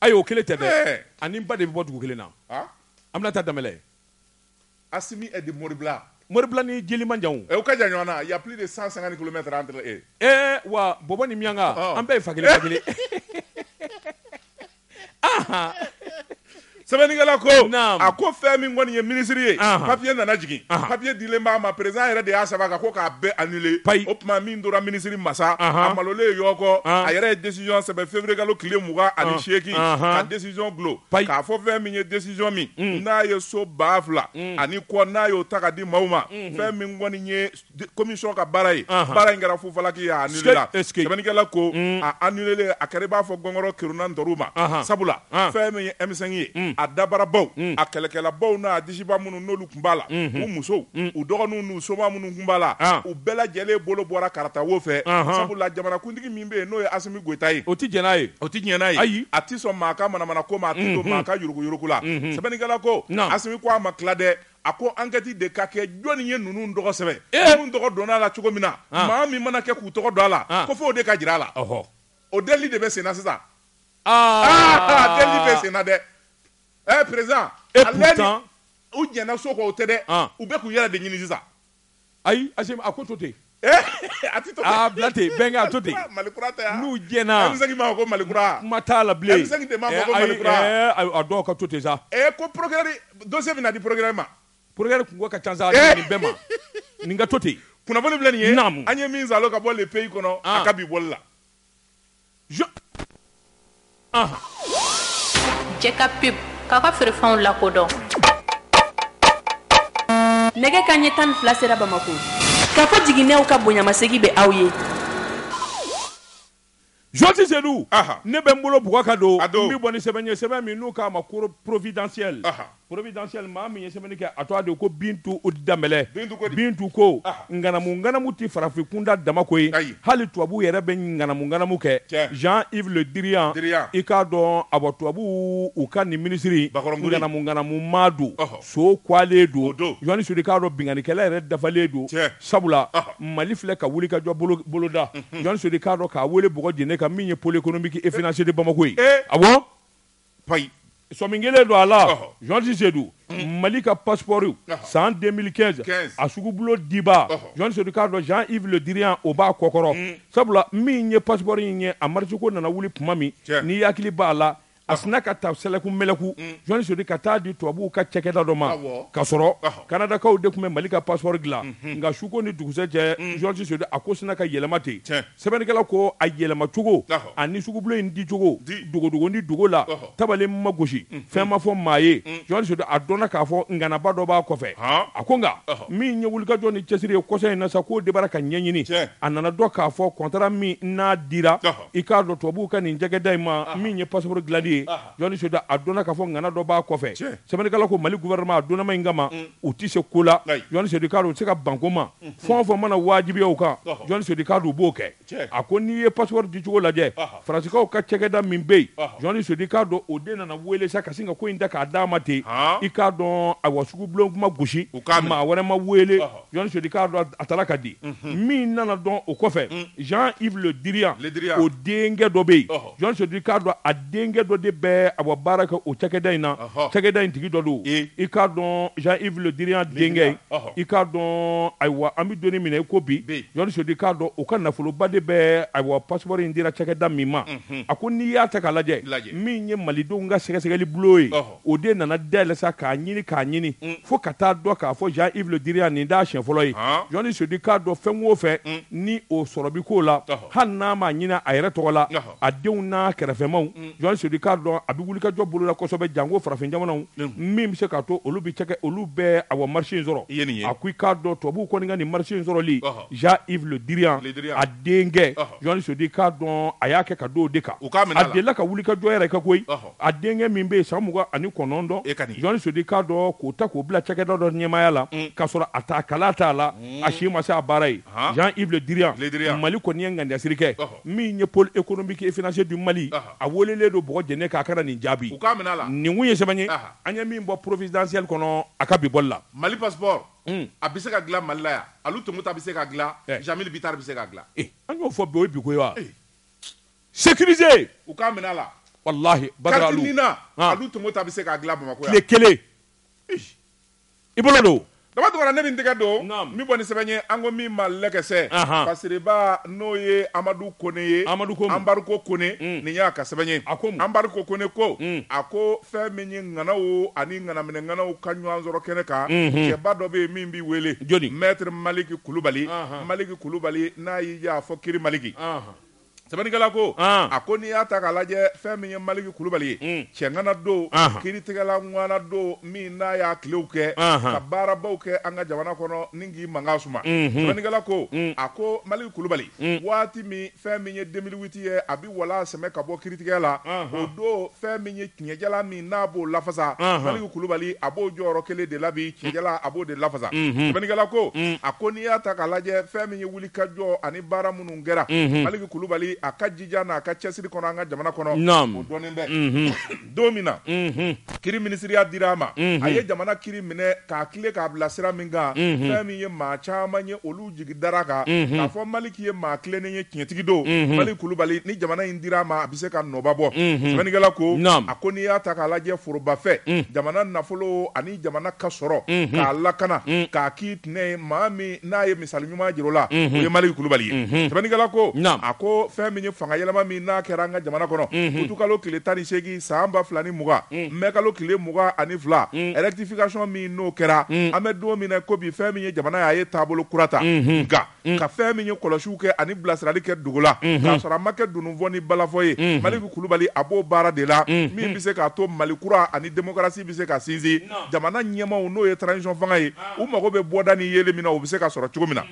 ayi o kelen tɛ dɛ Ɛ. ani n ba de bɛ bɔ dugu kelen na Ah, Aminata Danbɛlɛ Asimi est de Moribila. Moribila ni Jeli man jan o. Ɛ u ka jan ɲɔgɔn na, il y a plus de 150 kilomètres entre eux. Ee wa Bɔbɔ ni Miɲanka, ɔɔ, an bɛɛ ye fa kelen ba kelen Sɛbɛnnikɛla ko, naamu, a ko fɛn min kɔni ye minisiri ye, anhan, papier nana jigin, anhan, papier dilen b'a ma, président yɛrɛ de y'a sɛbɛn a kan ko k'a bɛɛ annuler, payi, o tuma min tora minisiri ma sa, anhan, a malolen yɔkɔ, anhan, a yɛrɛ ye décision sɛbɛn février kalo tile mugan ani seegin, anhan, ka décision desizɔn dulo k'a fɔ fɛn min ye desizɔn min n'a ye so ba fila ani kɔ n'a y'o ta ka di maaw ma fɛn min kɔni ye komisɔn ka baara ye baara in kɛra fufalaki ye a anilela sɛbɛnnikɛla ko a anile a kɛra i b'a fɔ gɔngɔrɔ kerunna ntoro ma sabula fɛn min ye M5 ye a dabarabaw a kɛlɛkɛlabaw n'a disiba minnu kun b'a la u musow u dɔgɔninw n'u soma minnu kun b'a la u bɛɛ lajɛlen bolo bɔra karata wo fɛ sabu jamanakuntigi min bɛ yen n'o ye asimi goyita ye o tɛ jɛn n'a ye o tɛ diɲɛ n'a ye ayi a tɛ sɔn maa ka manamana ko ma a tɛ to maa ka yuruguyurugu la sɛbɛnnikɛla ko asimi ko a ma tila dɛ a ko ankɛti de ka kɛ jɔnni ye ninnu tɔgɔ sɛbɛn u tɔgɔ donna a la cogo min na maa min mana kɛ k'u tɔgɔ don a la ko fo o de ka jira a la ɔɔ o deli de bɛ senna sisan aa deli bɛ senna dɛ Ɛɛ perezidan e purutan u jɛnna so kɔ o tɛ dɛ u bɛ k'u yɛrɛ de ɲini sisan ayi a ko to ten a to ten bɛn a to ten mali n'u jɛnna ko mali kuma t'a la bilen dɔw ka to ten sa ɛ ko porokirɛri dɔsiye bɛna di porokirɛri ma porokirɛri kunko ka ca sa bɛɛ ma nin ka to ten kunnafoni filɛ nin ye an ye min sɔrɔ ka bɔ le pays kɔnɔ a ka bi bɔli la Jɛka pub k'a ka feerefɛnw lakodɔn nɛgɛ kanɲɛ tan ni fila sera bamakɔ kafo jiginɛw ka bonyamasegin bɛ aw ye jɔnsi sedu ne bɛ n bolo bugu ka don n bɛ bɔ ni sɛbɛn ye sɛbɛn min n'u k'a ma ko providentiel Providentiel maa min ye sɛbɛnni kɛ a tɔgɔ de ye ko Bintu Danbɛlɛ, Bintu ko di? Bintu ko, ɔhɔ, ŋanamu ŋanamu tɛ farafin kunda dama ko ye, ayi, hali tubabuw yɛrɛ bɛ ŋanamu ŋanamu kɛ, tiɲɛ, Jean Yves Le Drian, Drian, i k'a dɔn awɔ tubabuw u ka nin minisiri in bakɔrɔn kori, ŋanamu ŋanamu maa don, ɔhɔ, so kuwalen don, o don, Jɔnsi Sedu i k'a dɔn binkannikɛla yɛrɛ dafalen don, tiɲɛ, sabula, ɔhɔ, Mali filɛ ka wulikajɔ bolo boloda, unhun, Jɔnsi Sedu i k'a dɔn k'a wele bɔgɔ jeninen kan min ye pole ekonomiki e finansiyeri Bamako ye, ee, awɔ. payi sɔmi kɛlen don a la jɔnsi sedu mali ka paspɔriw san 2015 a sugubulo diba jɔnsi sedu i k'a dɔn jean yves le diriyan o b'a kɔkɔrɔ mm. sabula min ye paspɔri in ye a marisɛko nana wuli tuma min n'i hakili b'a la a sina ka ta sɛlɛku mɛlɛku mm. jɔnsi sedu ka taa di tubabuw ka cɛkɛda dɔ ma ka sɔrɔ kanadakaw de tun bɛ mali ka paspɔri dilan mm-hmm. nka suko ni dugusɛ cɛ jɔnsi mm. sedu a ko sina ka yɛlɛma ten Sɛbɛnnikɛla ko a yɛlɛmacogo a ni sugubulon in dicogo dogodogonin dogo la tabale ma gosi fɛn ma fɔ maa ye jɔnsi sedu a dɔnna k'a fɔ ŋanaba dɔ b'a kɔfɛ a ko nka min ye wulikajɔ ni cɛsiri ye kɔsa in na sa k'o debara ka ɲɛɲini a nana dɔn k'a fɔ kɔntara min n'a dira i k'a dɔn tubabuw ka nin cɛkɛda in ma min ye paspɔri dilanli ye Jɔni Sedu a dɔnna k'a fɔ ŋana dɔ b'a kɔfɛ. Tiɲɛ! Sɛbɛnnikɛla ko Mali gouvernement a dɔnnama in kama, u tɛ se ko la. Ayi! Jɔni Sedu i k'a dɔn u tɛ se ka ban ko ma. Fɛn o fɛn mana wajibiya u kan, Jɔni Sedu i k'a dɔn u b'o kɛ. Tiɲɛ! A ko n'i ye passeport dicogo lajɛ, Faransikaw ka cakɛda min bɛ yen, Jɔni Sedu i k'a dɔn o de nana weele sa ka sin ka ko in ta k'a d'a ma ten. Haan! I k'a dɔn ayiwa sugubulon kuma gosi, u k'a minɛ, maa wɛrɛ ma weele, Jɔni Sedu i k'a dɔn a tara ka di. Min nana dɔn o kɔfɛ, Jean Yves Le Drian, Le Drian, o denkɛ dɔ bɛ yen, ɔhɔ! jɔni sedu i k'a dɔn a denkɛ dɔ de bɛ ayiwa baara kɛ o cakɛda in na cakɛda in tigi dɔ don i k'a dɔn jean yves le drian denkɛ i k'a dɔn ayiwa an bɛ doni minɛ i ko bi jɔni sedu i k'a dɔn o ka nafoloba de bɛ ayiwa passeport in dira cakɛda min ma a ko n'i y'a ta k'a lajɛ min ye malidenw ka sɛgɛsɛgɛli bulon ye o de nana dayɛlɛ sa k'a ɲini k'a ɲini mm. fo ka taa dɔn k'a fɔ jean yves le drian nin t'a siɲɛ fɔlɔ ye jɔni sedu i k'a dɔn fɛn o fɛn mm. ni o sɔrɔ bi ko la hali n'a m'a ɲini a yɛrɛ tɔgɔ la a denw n'a kɛrɛfɛmaw mm. jɔni sedu i k'a dɔn a bɛ wulikajɔ bolola kosɛbɛ janko farafin jamanaw min bɛ se k'a to olu bɛ cɛkɛ olu bɛ awa marché in sɔrɔ a ko i k'a dɔn tubabuw kɔni ka nin marché in sɔrɔli jean yves le drian a denkɛ jɔni sedu i k'a dɔn a y'a kɛ ka don o de kan a delila ka wulikajɔ yɛrɛ kɛ koyi A denkɛ min bɛ yen san mugan ani kɔnɔntɔn e ka di jɔni sedu i k'a dɔn k'o ta k'o bila cakɛda dɔ ɲɛmaaya la mm. k'a sɔrɔ a ta kala t'a la mm. a si ma se a baara ye Jean Yves Le Drian Mali kɔni ye ŋaniyasiri kɛ min ye pôle économique et financier du Mali a welelen don bɔgɔ jɛnɛ kan a ka na nin jaabi u k'a minɛ a la nin kun ye sɛbɛn ye an ye min bɔ providentielle kɔnɔ a ka bi bɔli la Mali passeport mm. a bɛ se ka dilan Mali la yan Alu Tomota bɛ se k'a dilan eh. Jamil Bitar bɛ se k'a dilan eh. an y'o fɔ bi o ye biko ye wa eh. sécuriser u k'a minɛ a la walahi Badara Alu carte NINA Alu Tomota bɛ se k'a dilan Bamakɔ yan tile kelen i bolo don dama tɛmɛna ne bɛ n tɛgɛ don n bɛ bɔ ni sɛbɛn ye an ko min ma lɛkɛsɛ Fasireba n'o ye Amadu Kone ye Amadu Kone Anbariko Kone nin y'a ka sɛbɛn ye a ko mun Anbariko Kone ko a ko fɛn min ye ŋanaw ani ŋanaminɛŋanaw ka ɲɔgɔn sɔrɔ kɛnɛ kan cɛba dɔ bɛ yen min bɛ wele jɔni Maître Maliki Kulubali Maliki Kulubali n'a y'i diya a fɔ kiiri Maliki. Sɛbɛnnikɛla ko, an, a ko n'i y'a ta k'a lajɛ fɛn min ye Maliki Kulubali ye, un, cɛŋana don, anhan, kiritigɛla ŋwana don min n'a y'a tilew kɛ, anhan, ka baarabaw kɛ an ka jamana kɔnɔ ni k'i mankan suma, unhun, sɛbɛnnikɛla ko, un, a ko Maliki Kulubali, un, waati min fɛn min ye 2008 ye a bɛ walaa sɛmɛ ka bɔ kiritigɛ la, anhan, o don fɛn min ye tiɲɛjalan min n'a b'o lafasa, anhan, Maliki Kulubali a b'o jɔyɔrɔ kelen de la bi, tiɲɛjalan a b'o de lafasa, unhun, sɛbɛnnikɛla ko, un, a ko n'i y'a ta k'a lajɛ fɛn min ye wulikajɔ ani baara minnu kɛra maliki kulubali a ka jija n'a ka cɛsiri kɔnɔ an ka jamana kɔnɔ o dɔnnen bɛ don min na kiri minisiriya dira a ma a ye jamana kiri minɛ k'a tilen k'a bila sira min kan fɛn min ye maa caman ye olu jigi dara kan k'a fɔ maliki ye maa tilennen ye tiɲɛtigi don maliki kulubali ni jamana in dira a ma a bɛ se ka nɔba bɔ sɛbɛnnikɛla ko a ko n'i y'a ta k'a lajɛ forobafɛn jamana nafolo ani jamana ka sɔrɔ k'a lakana k'a k'i ye maa min n'a ye misali ɲuman jira o la o ye Malick Kulubali ye sɛbɛnnikɛla ko a ko fɛn min ye fanga yɛlɛma min n'a kɛra an ka jamana kɔnɔ utukalo tile tan ni seegin san ba fila ni mugan mɛkalo tile mugan ani fila rectification min n'o kɛra an bɛ don min na i ko bi fɛn min ye jamana ye a ye taabolo kura ta nka Mm. ka fɛn min ye kɔlɔsiw kɛ ani bilasirali kɛ dogo la mm-hmm. k'a sɔrɔ a ma kɛ dununfɔ ni balafɔ ye mm-hmm. maliki kulubali a b'o baara de la mm-hmm. min bɛ se k'a to mali kura ani demokarasi bɛ se ka sinsin jamana ɲɛmaaw n'o ye transition fanga ye ah. u mago bɛ bɔda ni yeli min na o bɛ se ka sɔrɔ cogo min na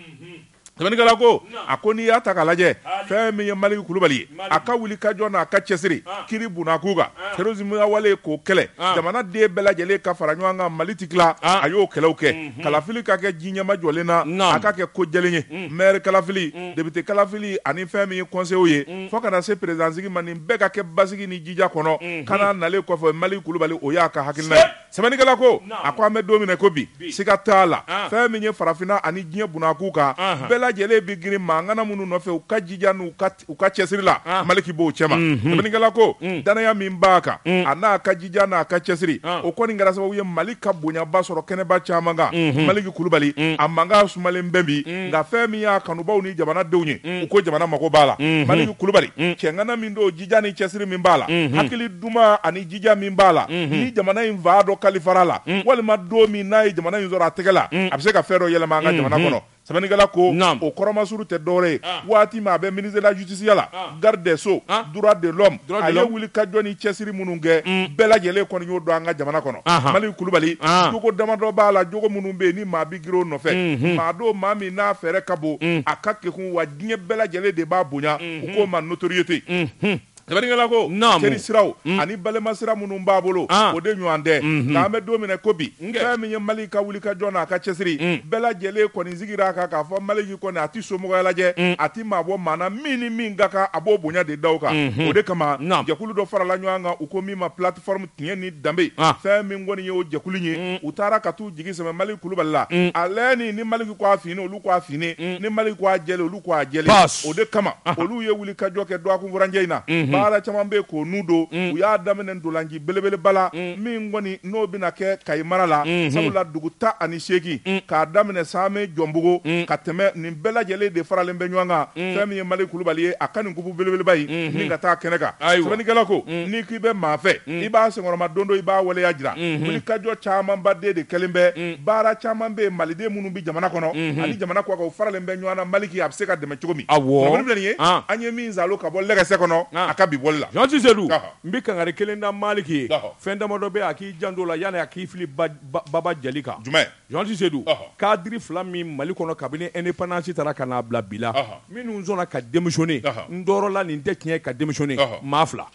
sɛbɛnnikɛla ko a ko n'i y'a ta k'a lajɛ fɛn min ye maliki kulubali ye a ka wuli ka jɔ n'a ka cɛsiri ah. kiri bunakun kan ah. terrorisme wale k'o kɛlɛ jamana den bɛɛ lajɛlen ka fara ɲɔgɔn kan mali ti tila a y'o kɛlɛw kɛ mm. Hmm. kalafili ka kɛ ji ɲɛmajɔlen na a ka kɛ ko jɛlen ye hmm. maire kalafili hmm. député kalafili ani fɛn min ye conseiller ye fo ka na se président sigi ma nin bɛɛ ka kɛ basigi ni jija kɔnɔ kana nalen kɔfɛ maliki kulubali o y'a ka hakilina ye sɛbɛnnikɛla ko a ko an bɛ don min na i ko bi siga t'a la ah. fɛn min ye farafinna ani diɲɛ bunakun kan ah. bɛɛ lajɛlen bɛ girin maa ŋana minnu nɔfɛ u ka jija n'u ka u ka cɛsiri la ah. maliki b'o cɛma mhm. sɛbɛnnikɛla ko mm. danaya min b'a kan mm. a n'a ka jija n'a ka cɛsiri ah. o kɔni kɛra sababu ye mali ka bonyaba sɔrɔ kɛnɛba caman kan mhm. maliki kulubali mm. a mankan sumalen bɛ bi nka fɛn min y'a kanubaw ni jamanadenw ye u ko jamana mago b'a la mhm. maliki kulubali cɛŋana min don jija ni cɛsiri min b'a la hakili duman ani jija min b'a la ni jamana in fan dɔ kalifara a la walima don min n'a ye jamana in sɔrɔ a tɛgɛ la a bɛ se ka fɛn dɔ yɛlɛma an ka jamana kɔnɔ Sɛbɛnnikɛla ko, naamu, o kɔrɔmasuru tɛ dɔwɛrɛ ye, an, waati min a bɛ ministre de la justice ya la, an, garde des sceaux, an, droit de l'homme, droit de l'homme, a ye wulikajɔ ni cɛsiri minnu kɛ, un, bɛɛ lajɛlen kɔni y'o dɔn an ka jamana kɔnɔ, anhan, Malick Kulubali, an, jogo damadɔ b'a la, jogo minnu bɛ yen ni maa bɛ girin o nɔfɛ, unhun, maa don maa min n'a fɛɛrɛ ka bon, un, a ka kekun wa diɲɛ bɛɛ lajɛlen de b'a bonya, unhun, u k'o ma notoriété, unhun. Sɛbɛnnikɛla ko teri siraw mm. ani balima sira minnu b'a bolo ah. o de ɲɔgɔn tɛ mm-hmm. nka an bɛ don min na i ko bi fɛn min ye maliki ka wuli ka jɔ n'a ka cɛsiri mm. bɛɛ lajɛlen kɔni sigira a kan k'a fɔ maliki kɔni a tɛ somɔgɔya lajɛ mm. a tɛ maa bɔ maa na min ni min ka kan a b'o bonya de da kan mm-hmm. o de kama jɛkulu dɔ farala ɲɔgɔn kan u ko min ma plateforme tiɲɛ ni danbe ah. fɛn min kɔni ye o jɛkulu ye u taara ka t'u jigi sɛmɛ maliki kulubali la ale ni maliki ko a finnen olu ko a finnen ni maliki ko a jɛlen olu ko a jɛlen o de kama olu ye wulikajɔ kɛ dɔgɔkun furancɛ in na baara caman bɛ k'o n'u don u y'a daminɛ ntolaci belebeleba la min kɔni n'o bɛna kɛ kayi mara la sabula dugu tan ni seegin k'a daminɛ samɛ jɔnbugu ka tɛmɛ nin bɛɛ lajɛlen de faralen bɛ ɲɔgɔn kan fɛn min ye maliki kulubali ye a ka nin kupu belebeleba in ka taa kɛnɛ kan sɛbɛnnikɛla ko n'i k'i bɛ maa fɛ mm. i b'a senkɔrɔmadondon i b'a waleya jira mm-hmm. wulikajɔ camanba de de kɛlen bɛ mm. baara caman bɛ maliden minnu bɛ jamana kɔnɔ mm-hmm. ani jamana kɔkan u faralen bɛ ɲɔgɔn na maliki a bɛ se ka dɛmɛ cogo min awɔ nin ye ah. an ye min zalo ka bɔ lɛgɛsɛ kɔnɔ ah. a ka bi bɔli la Jean Cisselu n bɛ kangari kelen da maliki ye fɛn damadɔ bɛ a k'i janto la yanni a k'i fili baba jali kan jumɛn Jean Cisselu cadre fila min mali kɔnɔ kabini indépendance taara ka n'a bila bi la minnu sɔnna ka démissionner n dɔɔrɔ la nin tɛ tiɲɛ ka démissionner maa fila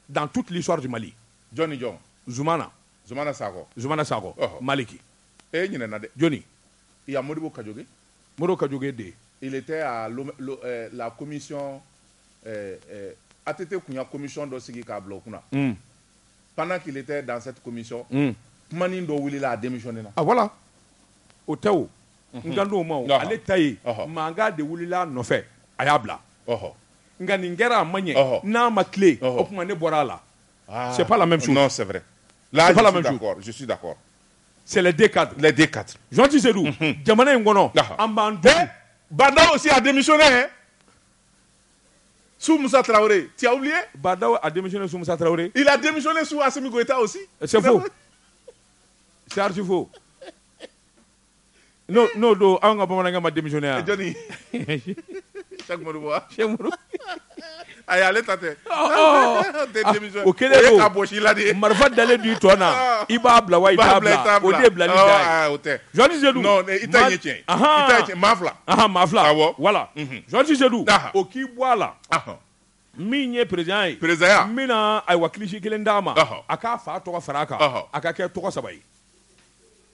Dans toute l'histoire du Mali jɔn ni jɔn? Zumana. Zumana Sakɔ. Zumana Sakɔ. Ɔhɔ. Maliki. E ɲinɛna dɛ. Jɔnni? Il y a Modibo Kadjoké. Modibo Kadjoké de? Il était à la commission ATT tun y'a commission dɔ sigi k'a bila o kunna. Un. Pendant qu'il était dans cette commission. Un. Kumanin dɔ wulila a démissionner na. Ah voilà. O tɛ o. n kan o ma ale ta ye mankan de wili nɔfɛ a y'a bila nka nin kɛra a ma ɲɛ n'a ma tile o tuma ne bɔra a la sɛ la mɛ sɛbɛnbɛ sɛden ka lajɛ ka tɛ se jamana in kɔnɔ an b'an bɛɛ bada si a denmisɛn ye su musa tarawele ti ye ba a denmisɛn su musa tarawele i la denmisɛnnin su a simi i taa o si sɛfu sariti fo n'o don anw ka bamanankɛ ma démissionner a ale ta tɛ o kelen ka bɔ la de marifa dalen don i tɔn na i b'a bila wa i t'a bila fila voilà o k'i bɔ a la min ye perezidan ye perezidan min ayiwa kilisi kelen d'a ma a k'a fa tɔgɔ fara a kan a ka kɛ tɔgɔ saba ye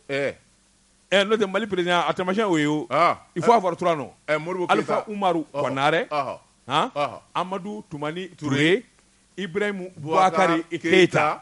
ɛ n'o tɛ mali perezidan a taamasiyɛn o ye il faut avoir trois noms alifa umaru kɔnare amadu tumani ture ibarahimu bubakari keyita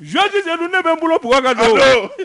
Zusi sedu ne bɛ n bolo bugɔ ka don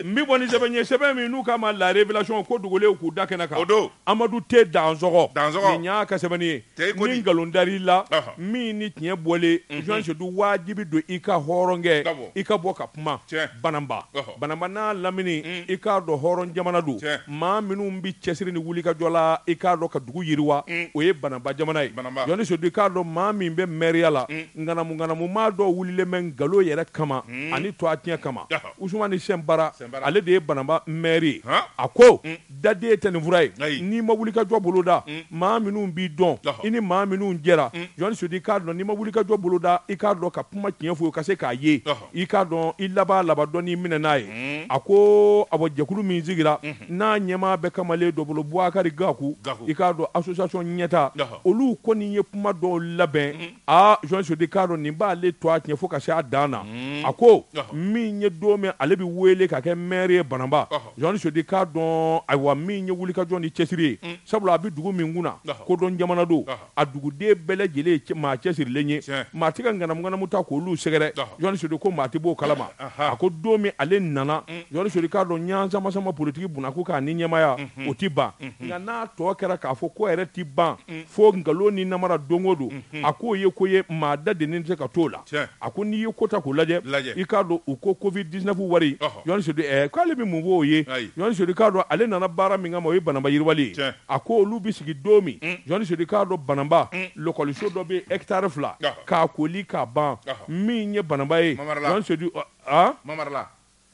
n bɛ bɔ ni sɛbɛn ye sɛbɛn min n'u k'a ma la révélation ko dogolen k'u da kɛnɛ kan amadu T dansɔgɔ y'a ka sɛbɛnni ye ni nkalon dara i la min ni tiɲɛ bɔlen Zusi sedu wajibi don i ka hɔrɔnkɛ i ka bɔ ka kuma banamba banamba n'a lamini i k'a dɔn hɔrɔn jamana don maa minnu bɛ cɛsiri ni wulikajɔ la i k'a dɔn ka dugu yiriwa o ye banamba jamana ye Zusi sedu i k'a dɔn maa min bɛ mɛriya la Ŋanamu ŋanamu maa dɔ wulilen bɛ nkalon yɛrɛ kama ani tɔgɔtiɲɛ kama, Usumani Sinpara, ale de ye Bananba maire ye, a ko, dade tɛ nin fura ye, n'i ma wulikajɔ boloda, maa minnu b'i dɔn, i ni maa minnu jɛra, Jɔni Sedu, i k'a dɔn, n'i ma wulikajɔ boloda, i k'a dɔn ka kuma tiɲɛ fɔ ka se k'a ye, i k'a dɔn i laban laban dɔ n'i minɛ n'a ye. A ko, awɔ, jɛkulu min sigira, n'a ɲɛmaa bɛ kamalen dɔ bolo, Bubakari Gaku, i k'a dɔn association ɲɛtaa, olu kɔni ye kuma dɔw labɛn, aa Jɔni Sedu k'a dɔn nin b'ale tɔgɔ tiɲɛ fo ka se a dan na hmm. a ko min ye don min ale bɛ wele ka kɛ maire ye Bananba Jɔni Sedu k'a dɔn ayiwa min ye wulikajɔ ni cɛsiri ye hmm. sabula a bɛ dugu min kun na kodɔn jamana don a duguden bɛɛ lajɛlen ye maa cɛsirilen ye maa tɛ ka ŋanamuŋanamu ta k'olu sɛgɛrɛ Jɔni Sedu ko maa tɛ b'o kalama a ko don min ale nana hmm. Jɔni Sedu k'a dɔn ɲansamasama politiki bunakun k'a ni ɲɛmaya o tɛ ban nka n'a tɔ kɛra k'a fɔ ko yɛrɛ tɛ ban fo nkalon ni namara don o don a k'o ye ko ye maa dadelen tɛ se ka t'o la a ko n'i ye ko ta k'o lajɛ i k'a dɔn u ko Covid dix-neuf wari k'ale bɛ mun fɔ o ye Jɔni Sedu k'a dɔn ale nana baara min kama o ye Bananba yiriwali a ko olu bɛ sigi don min Jɔni Sedu k'a dɔn Bananba lakɔliso dɔ bɛ hectare fila k'a kooli k'a ban min ye Bananba ye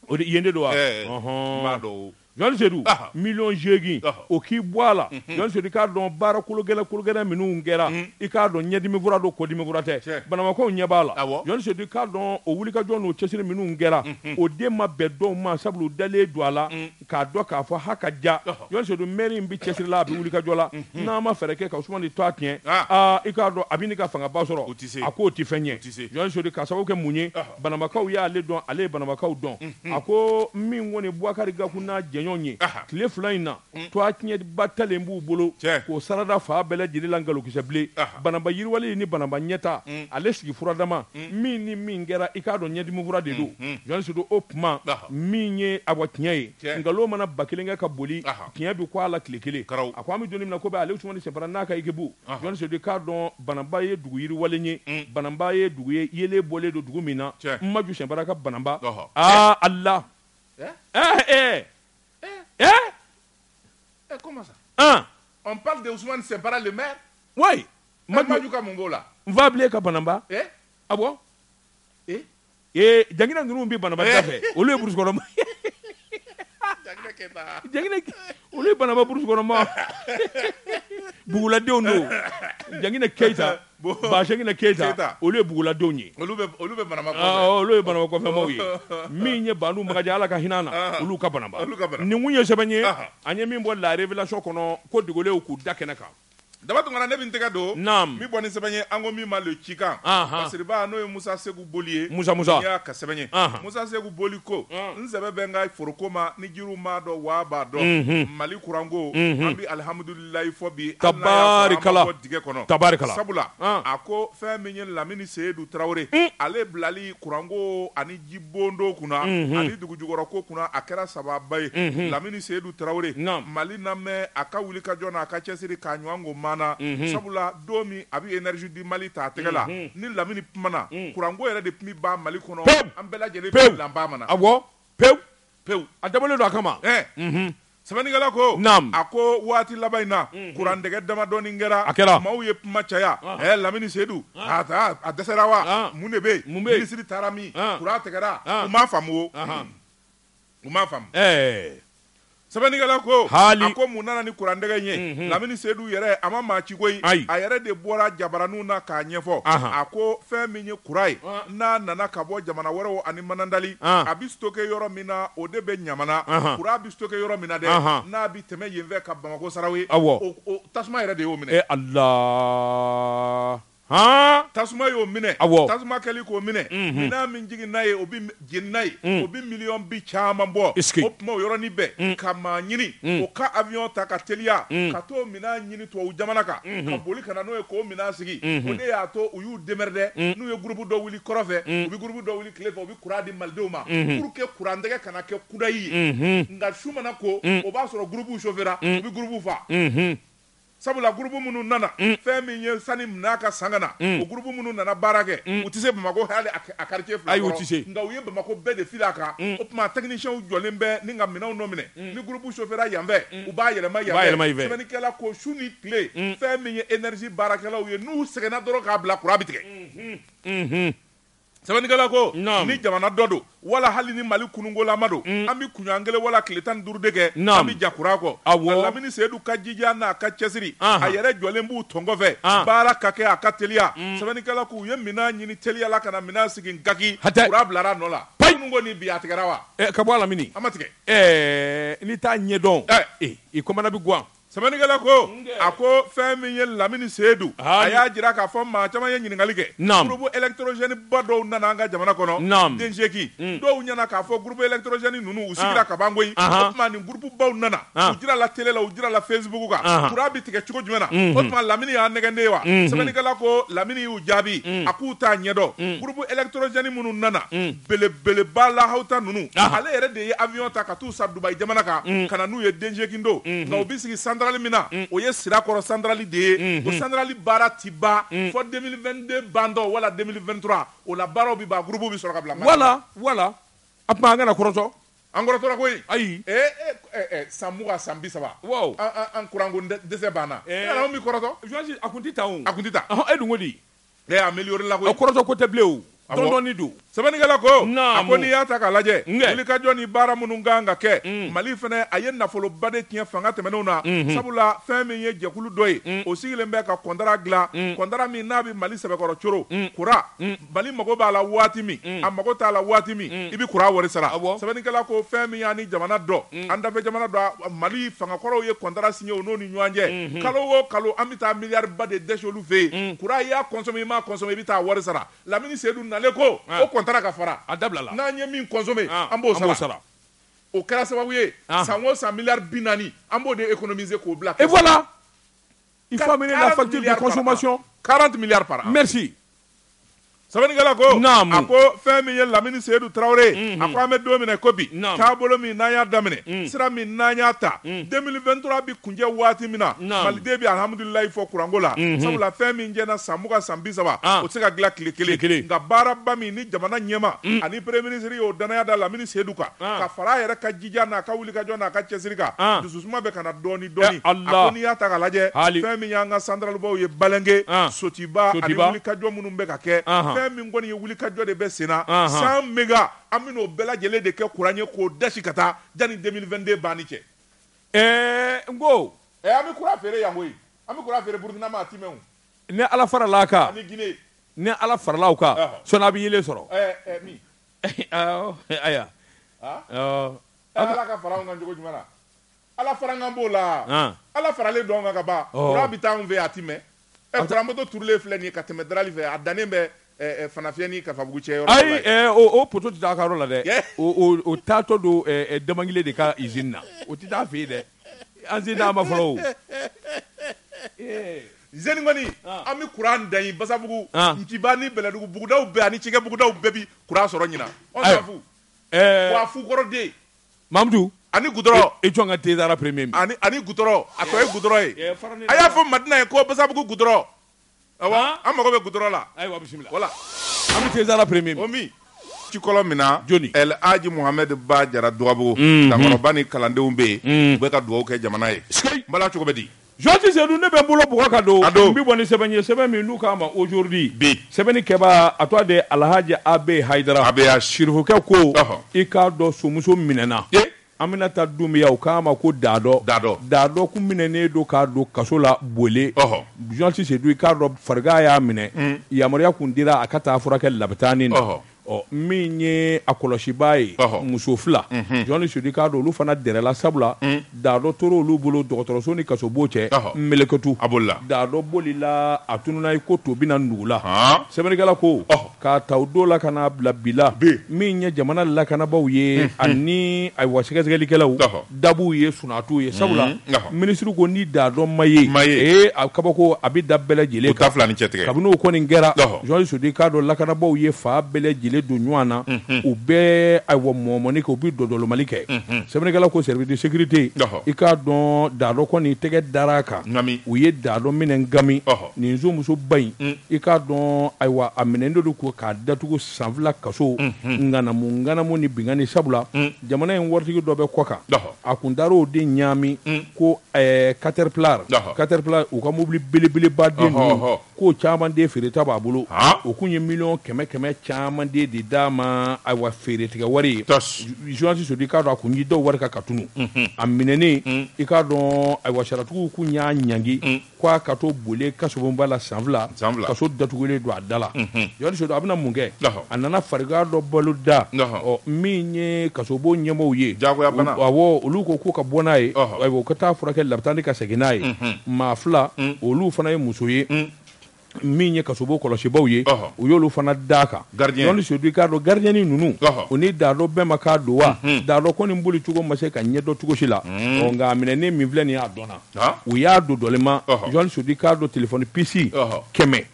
O de yen de don wa Ɛɛ, Ɔhɔn. n b'a dɔn o. Jɔni Sedu Aha. million seegin Ɔhɔ. o k'i bɔ a la Jɔni Sedu i k'a dɔn baara kologɛlɛ kologɛlɛ minnu kɛra i k'a dɔn ɲɛdimi fura don kɔdimi fura tɛ Tiɲɛ. Bananbakaw ɲɛ b'a la Awɔ. Jɔni Sedu i k'a dɔn o wulikajɔ n'o cɛsiri minnu kɛra o de ma bɛn dɔw ma sabula u dalen don a la k'a dɔn k'a fɔ ha ka ja Ɔhɔ. Jɔni Sedu maire in bɛ cɛsiri la a bɛ wulikajɔ la n'a ma fɛɛrɛ kɛ ka Usumani tɔgɔ tiɲɛ Ah. aa i k'a dɔn a bɛ n'i ka fangaba sɔrɔ O tɛ se. a k'o tɛ fɛn ɲɛ O tɛ se. Jɔni Sedu k'a sababu kɛ mun ye Ɔhɔ. Bananbakaw ye ale dɔn, ale ye Bananbakaw dɔn. A ko min kɔni ye Bubakari Gaku n'a jɛɲɔgɔn ye, tile fila in na, tɔgɔtiɲɛba talen b'u bolo k'o sarada fan bɛɛ lajɛlen la nkalonkisɛ bilen. Bananba yiriwali ni Bananba ɲɛta, ale sigi furadama, min ni min kɛra, i k'a dɔn ɲɛdimifura de don. Jɔni Sedu, o tuma min ye awa tiɲɛ ye, nkalon mana ba kelen kɛ ka boli, tiɲɛ bɛ kun a la tile kelen. A ko an bɛ don min na ko bi Aliyu Usumani Sinpara n'a ka ekipu, Sodi k'a dɔn banaba ye dugu yiriwa ye banaba ye dugu ye yelen bɔlen don dugu min na maju sɛra ka banaba aa ala ee mɛ maju ka mun b'o la n faa bilen ka banaba a Ee jaina ninnu bɛ Bananba da fɛ olu ye brousse kɔnɔ olu ye Bananba brousse kɔnɔ maa buguladenw don jaina keyita baina keyita olu ye buguladenw ye olu olu bɛ Bananba olu ye Bananba kɔfɛmaw ye min ye banba ala ka hinɛ na olu ka Bananba nin ye sɛbɛn ye an ye min bɔ la révélation kɔnɔ ko dogolenw k'u da kɛnɛ kan Daba tunkara ne bɛ n tɛgɛ don min bɔ ni sɛbɛn ye an ko min ma le cikan basiriba n'o ye musa segu boli ye musa y'a ka sɛbɛn ye musa segu boli ko n sɛbɛ bɛ n ka foroko ma ni jiriw m'a dɔn wa b'a dɔn mali kuranko an bɛ alihamdulilayi fɔ bi ka bɔ dingɛ kɔnɔ tabarikala sabula a ko fɛn min ye lamini seyidu tarawele ale bilali kuranko ani jibondo kunna ani dugu jukɔrɔ ko kunna a kɛra sababa ye lamini seyidu tarawele mali namɛ a ka wulikajɔ n'a ka cɛsiri k'a ɲɔgɔn ko mana sabula don min a bɛ énergie du mali ta a tɛgɛ la ni lamini kumana kuranko yɛrɛ de tun bɛ ban mali kɔnɔ an bɛɛ lajɛlen bɛ lanba mana awɔ pe pewu a dabɔlen don a kama unhun sɛbɛnnikɛla ko naamu a ko waati laban in na kuran tɛgɛ damadɔni kɛra a kɛra maaw ye kuma caya ɛɛ lamini sedu a taa a dɛsɛra wa mun de bɛ yen mun bɛ yen minisiri taara min kuran tigɛra u m'a faamu o u m'a faamu ɛɛ sɛbɛnnikɛla ko haali a ko mun nana ni kuran tɛgɛ in ye lamini sedu yɛrɛ a ma maa ci koyi ayi a yɛrɛ de bɔra jabaraninw na k'a ɲɛfɔ a ko fɛn min ye kuran ye n'a nana ka bɔ jamana wɛrɛw ani Manantali, an, a bɛ stocker yɔrɔ min na o de bɛ Ɲamana, anhan, courant bɛ stocker yɔrɔ min na dɛ, anhan, n'a bɛ tɛmɛ yen fɛ ka Bamako Sarawe, awɔ, o o tasuma yɛrɛ de y'o minɛ, e Ala, han, tasuma y'o minɛ, awɔ, tasuma kɛli k'o minɛ, unhun, minɛn min jiginna yen o bɛɛ jenina yen, un, o bɛ miliyɔn bi caman bɔ, est-ce que, o tuma o yɔrɔnin bɛɛ, un, ka maa ɲini, un, o ka avion ta ka teliya, un, ka t'o minan ɲini tubabu jamana kan ka boli ka na n'o ye k'o minan sigi o de y'a to u y'u démerder n'u ye gurupu dɔ wuli kɔrɔn fɛ u bɛ gurupu dɔ wuli tile fɛ u bɛ kuran di malidenw ma pour que kuran tɛgɛ kana kɛ kudayi ye nka su mana ko o b'a sɔrɔ gurupuw chauffera u bɛ gurupuw fa sabula gurupu minnu nana fɛn min ye sani minan ka san ka na o gurupu minnu nana baara kɛ u tɛ se bamakɔ hali a quartier fila kɔrɔ nka u ye bamakɔ bɛɛ de fili a kan o tuma techniciens jɔlen bɛ ni ka minɛnw nɔ minɛ ni groupe chauffera yan fɛ u b'a yɛlɛma yan fɛ sɛbɛnnikɛla ko su ni tile fɛn min ye énergie baarakɛlaw ye n'u sɛgɛnna dɔrɔn k'a bila courant bɛ tigɛ sɛbɛnnikɛla ko ni jamana dɔ don wala hali ni Mali kunungolama don an bɛ kunɲɔgɔn kelen wala tile tan ni duuru de kɛ an bɛ ja courant kɔ nka Lamini Seyidu ka jija n'a ka cɛsiri a yɛrɛ jɔlen b'u tɔn kɔfɛ baara ka kɛ a ka teliya sɛbɛnnikɛla ko u ye minɛn ɲini teliya la ka na minɛn sigi Ngaki courant bilara a nɔ la kunun ko ni bi a tigɛra wa ka bɔ a Lamini a ma tigɛ. Ɛɛ n'i t'a ɲɛdɔn i kɔnɔna bɛ gan sɛbɛnnikɛla ko a ko fɛn min ye lamini seyidu a y'a jira k'a fɔ maa caman ye ɲininkali kɛ naamu groupe électrogène ba dɔw nana an ka jamana kɔnɔ naam denjeki dɔw ɲɛna k'a fɔ groupe électrogène ninnu u sigira ka ban koyi o tuma ni groupe baw nana u jirala télé la u jirala facebook kan kuran bɛ tigɛ cogo jumɛn na o tuma lamini y'an nɛgɛn de wa sɛbɛnnikɛla ko lamini y'u jaabi a k'u t'a ɲɛdɔn groupe électrogène minnu nana belebeleba lahawta ninnu ale yɛrɛ de ye avion ta ka taa u san Dubaï jamana kan ka na n'u ye denjikindo nka u bɛ sigi centrale min na o ye Sirakɔrɔ centrale de ye o centrale baara tɛ ban fo 2022 bantɔ wala 2023 o la baaraw bɛ ban groupe bɛ sɔrɔ ka bila wala wala a tuma an kana kɔrɔtɔ an kɔrɔtɔra koyi ayi san mugan san bi saba an kuranko dɛsɛ banna an bɛ kɔrɔtɔsi a tɛ taa a tɛ taa e dun ko di Ee a amélioré la koyi, a kɔrɔtɔ ko tɛ bilen o, dɔɔni don. Sɛbɛnnikɛla ko, naamu, a ko n'i y'a ta k'a lajɛ, nkɛ, wulikajɔ ni baara minnu ka kan ka kɛ, un, Mali fana a ye nafoloba de tiɲɛ fanga tɛmɛnenw na, unhun, sabula fɛn min ye jɛkulu dɔ ye, un, o sigilen bɛ ka kɔntara dilan, un, kɔntara min n'a bɛ Mali sɛbɛkɔrɔ coron, un, kuran, un, Mali mago b'a la waati min, un, a mago t'a la waati min, un, i bɛ kuran wari sara, awɔ, sɛbɛnnikɛla ko fɛn min y'an ni jamana dɔ, un, an dafɛjamana dɔ, Mali fangakɔrɔw ye kɔntara signé u n'o ni ɲɔgɔn cɛ, unhun, kalo o kalo an bɛ taa miliyariba de dɛsi olu fɛ yen kuran i y'a consommé i m'a consommé i bɛ taa wari sara lamini seyidu nalen ko o kɔntara ka fara a dabilala n'an ye min consommé an b'o sara sara o kɛra sababu ye san o san miliyari bi naani an b'o de économiser k'o bila et voilà il faut amener la facture 40 milliards par an merci Sɛbɛnnikɛla ko a ko fɛn min ye lamini seyidu tarawele a ko an bɛ don min na ko bi taabolo min n'a y'a daminɛ sira min n'a y'a ta 2023 bɛ kuncɛ waati min na maliden bɛ alhamdulilayi fɔ kuranko la sabula fɛn min jɛna san mugan san bi saba o tɛ se ka dilan tile kelen kelen nka baaraba min ni jamana ɲɛmaa ani premier ministre y'o danaya da lamini seyidu kan ka fara a yɛrɛ ka jija n'a ka wulikajɔ n'a ka cɛsiri kan dususuma bɛ ka na dɔɔnin dɔɔni. Ɛ Allah. A ko n'i y'a ta k'a lajɛ, Haali. fɛn min y'an ka santaralibaw ye Balɛnke, An. Sotiba ani Sotiba. wulikajɔ minnu bɛ ka kɛ, Anhan. fɛn min kɔni ye wulikajɔ de bɛ senna, Anhan. 100 méga, an bɛna o bɛɛ lajɛlen de kɛ kuran ye k'o dasi ka taa yanni 2022 banni cɛ. Ɛɛ n ko Ɛ an bɛ kuran feere yan koyi, an bɛ kuran feere Burukina ma a tɛ mɛn o, ni Ala faral'a kan, ani Guinée. ni Ala farala u kan, Ɔhɔ. sɔɔni a bɛ yeelen sɔrɔ. Ɛ ɛ min? Awɔ, aya. Aa. Awɔ. Ɛ Ala ka fara anw kan cogo jumɛn na? Ala fara an kan b'o la ala faralen don an kan ka ban kuran bɛ taa anw fɛ a tɛ mɛn poto turulen filɛ nin ye ka tɛmɛ Darali fɛ a dannen bɛ Fanafiyɛ ni Kafabugu cɛ yɔrɔ la ayi o poto tɛ taa a ka yɔrɔ la dɛ o taatɔ don Damangile de ka izini na o tɛ taa fɛ yen dɛ an sen ma fɔlɔ izini kɔni an bɛ kuran da yen Basabugu Nciba ni Bɛlɛdugu bugudaw bɛɛ ani cikɛbugudaw bɛɛ bɛ kuran sɔrɔ ɲinan fu fukɔrɔden mamudu ani goudron i jɔn ka den dara premier ani goudron a tɔ ye goudron ye a y'a fɔ madina ye ko Basabugu goudron an mago bɛ goudron la ayiwa bisimila wala an bɛ dara premier min min ci kɔlɔn min na jɔnni alaji Muhamɛdi Ba Jara Dugabugu ka kɔrɔba ni kalandenw bɛ yen u bɛ ka dugawu kɛ jamana ye bala cogo bɛ di Journaliste Seydou ne bɛ n bolo bɔgɔ ka don n bɛ bɔ ni sɛbɛn ye sɛbɛn min n'u k'a ma Aujourd'hui sɛbɛnnikɛbaa a tɔgɔ de Alahaji A B Hayidara sirifukɛ ko i k'a dɔn sonmuso minɛna Aminata Dunbiya u k'a ma ko Dadɔ Dadɔ Dadɔ tun minɛnen don k'a don kaso la Bole journaliste Seydou i k'a dɔn farigan y'a minɛ yamaruya tun dira a ka taa furakɛ labitani Ɔ min ye a kɔlɔsibaa ye muso fila journaliste Seydou i k'a dɔn olu fana dɛrɛla sabula Dadɔ tora olu bolo dɔgɔtɔrɔso ni kasobon cɛ mlɛkutu a bolila Dadɔ bolila a tununa i ko to binna nugu la sɛbɛnnikɛla ko k'a ta o don la ka n'a bila bi la min ye jamana lakanabaaw ye ani ayiwa sɛgɛsɛgɛlikɛlaw da b'u ye sunaa t'u ye sabula minisiri ko ni Dadɔ ma ye a kabako a bɛ da bɛɛ lajɛlen kan fila ni cɛ tigɛ kabini n'o kɔni kɛra journaliste Seydou i k'a dɔn lakanabagaw ye fan bɛɛ lajɛlen don ɲɔgɔn na u bɛ ayiwa mɔmɔni kɛ u bɛ dɔdɔlɔmali kɛ sɛbɛnnikɛla ko service de sécurité i k'a dɔn Dadɔ kɔni tɛgɛ dara a kan u ye Dadɔ minɛ gami nin musoba in i k'a dɔn ayiwa a minɛnen don ko k'a datugu san fila kaso ŋanamuŋanamu ni binkanni sabula Jamana in waritigi dɔ bɛ kɔkan a kun taara o de ɲaami ko Caterpillar u ka mobili belebeleba de ninnu k'o caman de feereta b'a bolo o tun ye miliyɔn kɛmɛ kɛmɛ caman de de d'a ma ayiwa feere tigɛ wari ye journaliste Seydou i k'a dɔn a kun ye dɔw wari kan ka tunun a minɛnen i k'a dɔn ayiwa sariyatigiw tun y'a ɲ k'a ka to Bole kasobonba la san fila kaso datugulen don a da la journaliste Seydou a bɛna mun kɛ a nana farigan dɔ balo da min ye kasobon ɲɛmɔgɔw ye awɔ olu ko k'u ka bɔ n'a ye ayiwa u ka taa furakɛ labitani ka segin n'a ye maa fila olu fana ye muso ye min ye kasobon kɔlɔsibaaw ye u y'olu fana d'a kan journaliste Seydou i k'a dɔn garidiyɛn ninnu u ni Dadɔ bɛnmakan don wa Dadɔ kɔni boli cogo ma se ka ɲɛdɔn cogo si la nka a minɛnen min filɛ nin ye a dɔnna u y'a dɔdɔlima journaliste Seydou i k'a dɔn telefɔni pisi kɛmɛ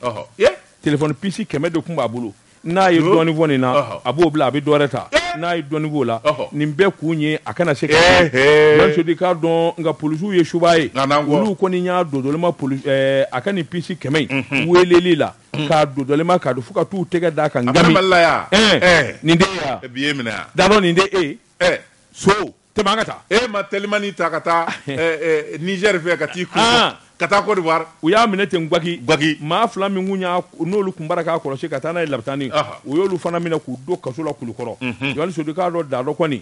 telefɔni pisi kɛmɛ de tun b'a bolo n'a ye dɔɔni fɔ nin na a b'o bila a bɛ dɔwɛrɛ ta n'a ye dɔɔni f'o la nin bɛɛ kun ye a kana se ka Seydou i k'a dɔn nka polisiw ye subaa ye olu kɔni y'a dɔdɔlima a ka nin pisi kɛmɛ in weleli la k'a dɔdɔlima k'a dɔn fo ka t'u tɛgɛ d'a kan gami nin Dadɔ nin de e so Tɛmɛ ka taa e ma telimani ta ka taa Nizɛri fɛ ka taa i ka taa Kɔdiwari u y'a minɛ ten gaki gaki maa fila min n'olu tun baara k'a kɔlɔsi ka taa n'a ye labitani u y'olu fana minɛ k'u don kaso la Kulukɔrɔ journaliste Seydou i k'a dɔn Dadɔ kɔni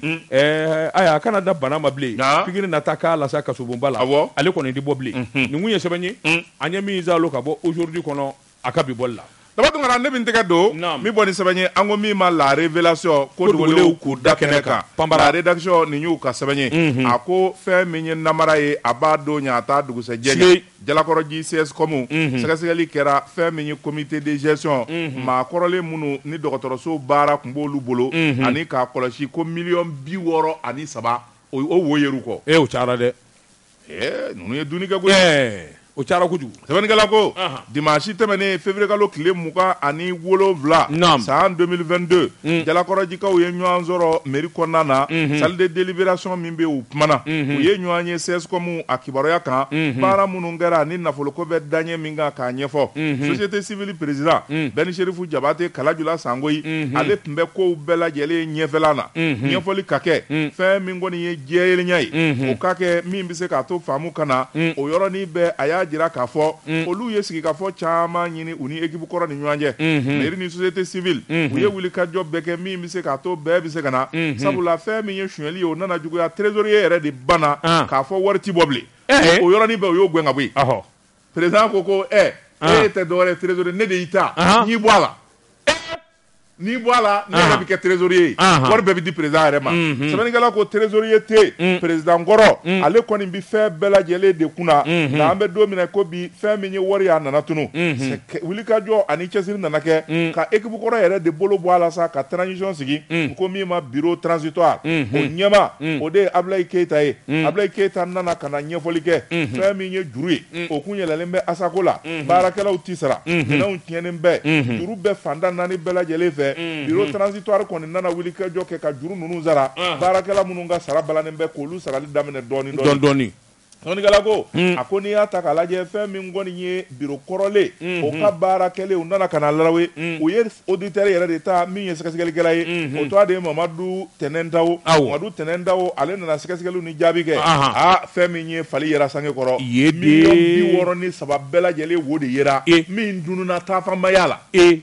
ayiwa a kana da bana ma bilen pikiri na taa k'a la sa kasobonba la ale kɔni tɛ bɔ bilen nin kun ye sɛbɛn ye an ye min zan ka bɔ Aujourd'hui kɔnɔ A ka bi bɔli la. Daba Tunkara ne bɛ n tɛgɛ don. Naamu. N bɛ bɔ ni sɛbɛn ye an ko min ma la revelation ko dogolenw k'u da kɛnɛ kan. Panpara. La redaction nin y'u ka sɛbɛn ye. Unhun. A ko fɛn min ye namara ye a b'a don ɲɛ a t'a dugusɛjɛ ɲɛ. Siyeyi. Jalakɔrɔji CSCOM. Unhun. Sɛgɛsɛgɛli kɛra fɛn min ye comite de gestion. Unhun. Maa kɔrɔlen minnu ni dɔgɔtɔrɔso baara tun b'olu bolo. Unhun. Ani k'a kɔlɔsi ko miliyɔn bi wɔɔrɔ ani saba o wo yer'u kɔ. Ee o cayara dɛ! ninnu ye duni kɛ koyi o cayara kojugu sɛbɛnnikɛla ko dimasi tɛmɛnen février kalo tile mugan ani wolonwula san 2022 jalakɔrɔjikaw ye ɲɔgɔn sɔrɔ mairie kɔnɔna na salle de délibération min bɛ u kumana u ye ɲɔgɔn ye CSCOM a kibaruya kan baara minnu kɛra ni nafoloko bɛ da ɲɛ min kan k'a ɲɛfɔ société civile président bɛni seerifu jabate kalajula sangoyi ale tun bɛ ko bɛɛ lajɛlen ɲɛfɛ na ɲɛfɔli ka kɛ fɛn min kɔni ye jɛyelenya ye Unhun. o ka kɛ min bɛ se k'a to faamu ka na o yɔrɔnin bɛɛ a y'a jira k'a fɔ olu ye sigikafɔ caman ɲini u ni ekipu kɔrɔ ni ɲɔgɔn cɛ mɛri ni sosiyete sivili u ye wulikajɔ bɛɛ kɛ min bɛ se k'a to bɛɛ bɛ se ka na sabula fɛn min ye sonyali ye o nana juguya trezoriye yɛrɛ de banna Ah. k'a fɔ wari ti bɔ bilen Eh. o yɔrɔnin bɛɛ o y'o gɛn ka bɔ yen Ɔhɔ. perezidan ko ko ɛ Ah. e tɛ dɔwɛrɛ trezoriye ne de y'i ta Ahan. n y'i bɔ a la n'i bɔ a la ne yɛrɛ bɛ kɛ trésorier ye wari bɛɛ bɛ di président yɛrɛ ma sɛbɛnnikɛla ko trésorier tɛ yen mm. président kɔrɔ mm. ale kɔni bɛ fɛn bɛɛ lajɛlen de kunna mm-hmm. nka an bɛ don min na ko bi fɛn min ye wari ye a nana tunu mm-hmm. wulikajɔ ani cɛsiri nana kɛ mm. ka équipe kɔrɔ yɛrɛ de bolo bɔ a la sa ka transition sigi ko min ma bureau transitoire mm-hmm. o ɲɛmaa o de ye Ablaye Keyita ye Ablaye Keyita nana ka na ɲɛfɔli kɛ fɛn min ye juru ye o kun yɛlɛlen bɛ asako la baarakɛlaw tɛ sara minɛnw tiɲɛnen bɛ juru bɛ fanda naani bɛɛ lajɛlen fɛ biro tranzitwari kɔni nana wulikajɔ kɛ ka juru ninnu sara baarakɛla minnu ka sara balannen bɛ k'olu sarali daminɛ dɔɔnin dɔɔnin sɛbɛnnikɛla ko a ko n'i y'a ta k'a lajɛ fɛn min kɔni ye biro kɔrɔlen o ka baara kɛlen u nana ka na lawe u ye oditɛri yɛrɛ de ta min ye sɛgɛsɛgɛlikɛla ye o tɔgɔ de ye mamadu tɛnɛntawo mamadu tɛnɛntawo ale nana sɛgɛsɛgɛli jaabi kɛ aa fɛn min ye fali yera sange kɔrɔ miliyɔn bi wɔɔrɔ ni saba bɛɛ lajɛlen wo de yera e min dununa taafanbaya la e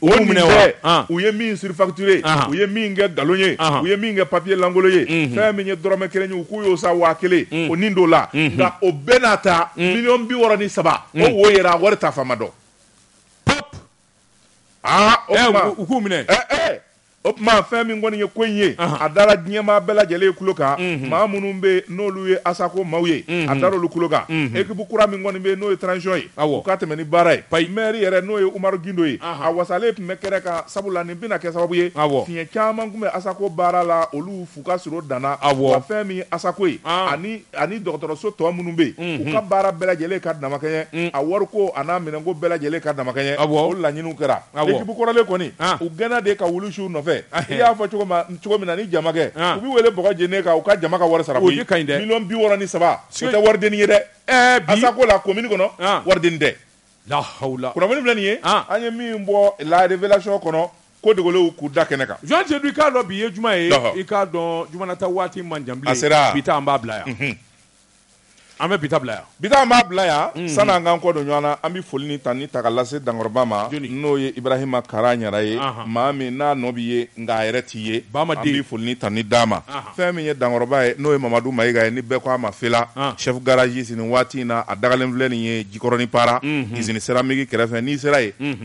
o minɛ u ye min surfacturé u ye min kɛ nkalon ye u ye min kɛ papiye lankolon ye fɛn min ye dɔrɔmɛ kelen ye u k'u y'o san waa kelen o nin don la nka o bɛɛ n'a ta miliyɔn bi wɔɔrɔ ni saba o wo yera wari taafan ma dɔn aa o ɛ tuma u u k'u minɛ ɛ ɛ o tuma fɛn min kɔni ye ko in ye Ahan. a dara diɲɛmaa bɛɛ lajɛlen tulo kan maa minnu bɛ yen n'olu ye asako maaw ye a dara olu tulo kan ekipu kura min kɔni bɛ yen n'o ye transition ye Awɔ. u ka tɛmɛ ni baara ye Payi. maire yɛrɛ n'o ye umaru gindo ye Ahan. a wasalen tun bɛ kɛnɛ kan sabula nin bɛna kɛ sababu ye Awɔ. fiɲɛ caman tun bɛ asako baara la olu fu ka sir'o dan na Awɔ. wa fɛn min ye asako ye An. ani ani dɔgɔtɔrɔso tɔ minnu bɛ yen u ka baara bɛɛ lajɛlen ka damakɛɲɛ a wariko an'a minɛnko bɛɛ lajɛlen ka damakɛɲɛ o laɲiniw kɛra ekipu kɔrɔlen kɔni u gɛnna de ka wulu su u nɔfɛ i y'a fɔ cogo min na ni jamakɛ u bɛ wele bɔgɔ jeni kan u ka jama ka wari sara koyi miliyɔn bi wɔɔrɔ ni saba o tɛ waridennin ye dɛ Asako la commune kɔnɔ waridennin tɛ la hawula kunnafoni filɛ nin ye an ye min bɔ La Révélation kɔnɔ ko dogolenw k'u da kɛnɛ kan. Jean Seydou i k'a dɔn bi ye juma ye, ɔhɔ, i k'a dɔn jumanata waati man jan bilen, a sera, bi ta an b'a bila yan, unhun, an bɛ bi ta bila yan, bi ta an b'a bila yan, unhun, sani an k'an kɔ don ɲɔgɔn na, an bɛ foli ni tanuni ta ka lase dankɔrɔba ma, jɔni, n'o ye Ibrahima Kara Ɲara ye, anhan, maa min n'a nɔ bɛ ye nka a yɛrɛ tɛ ye, Baama den, an bɛ foli ni tanuni d'a ma, anhan, fɛn min ye dankɔrɔba ye n'o ye Mamadu Mayiga ye ni bɛɛ ko a ma Fela, an, chef garagiste nin waati in na a dagalen filɛ nin ye Jikɔrɔni Para, unhun, usine céramique kɛrɛfɛ n'i sera yen, unhun.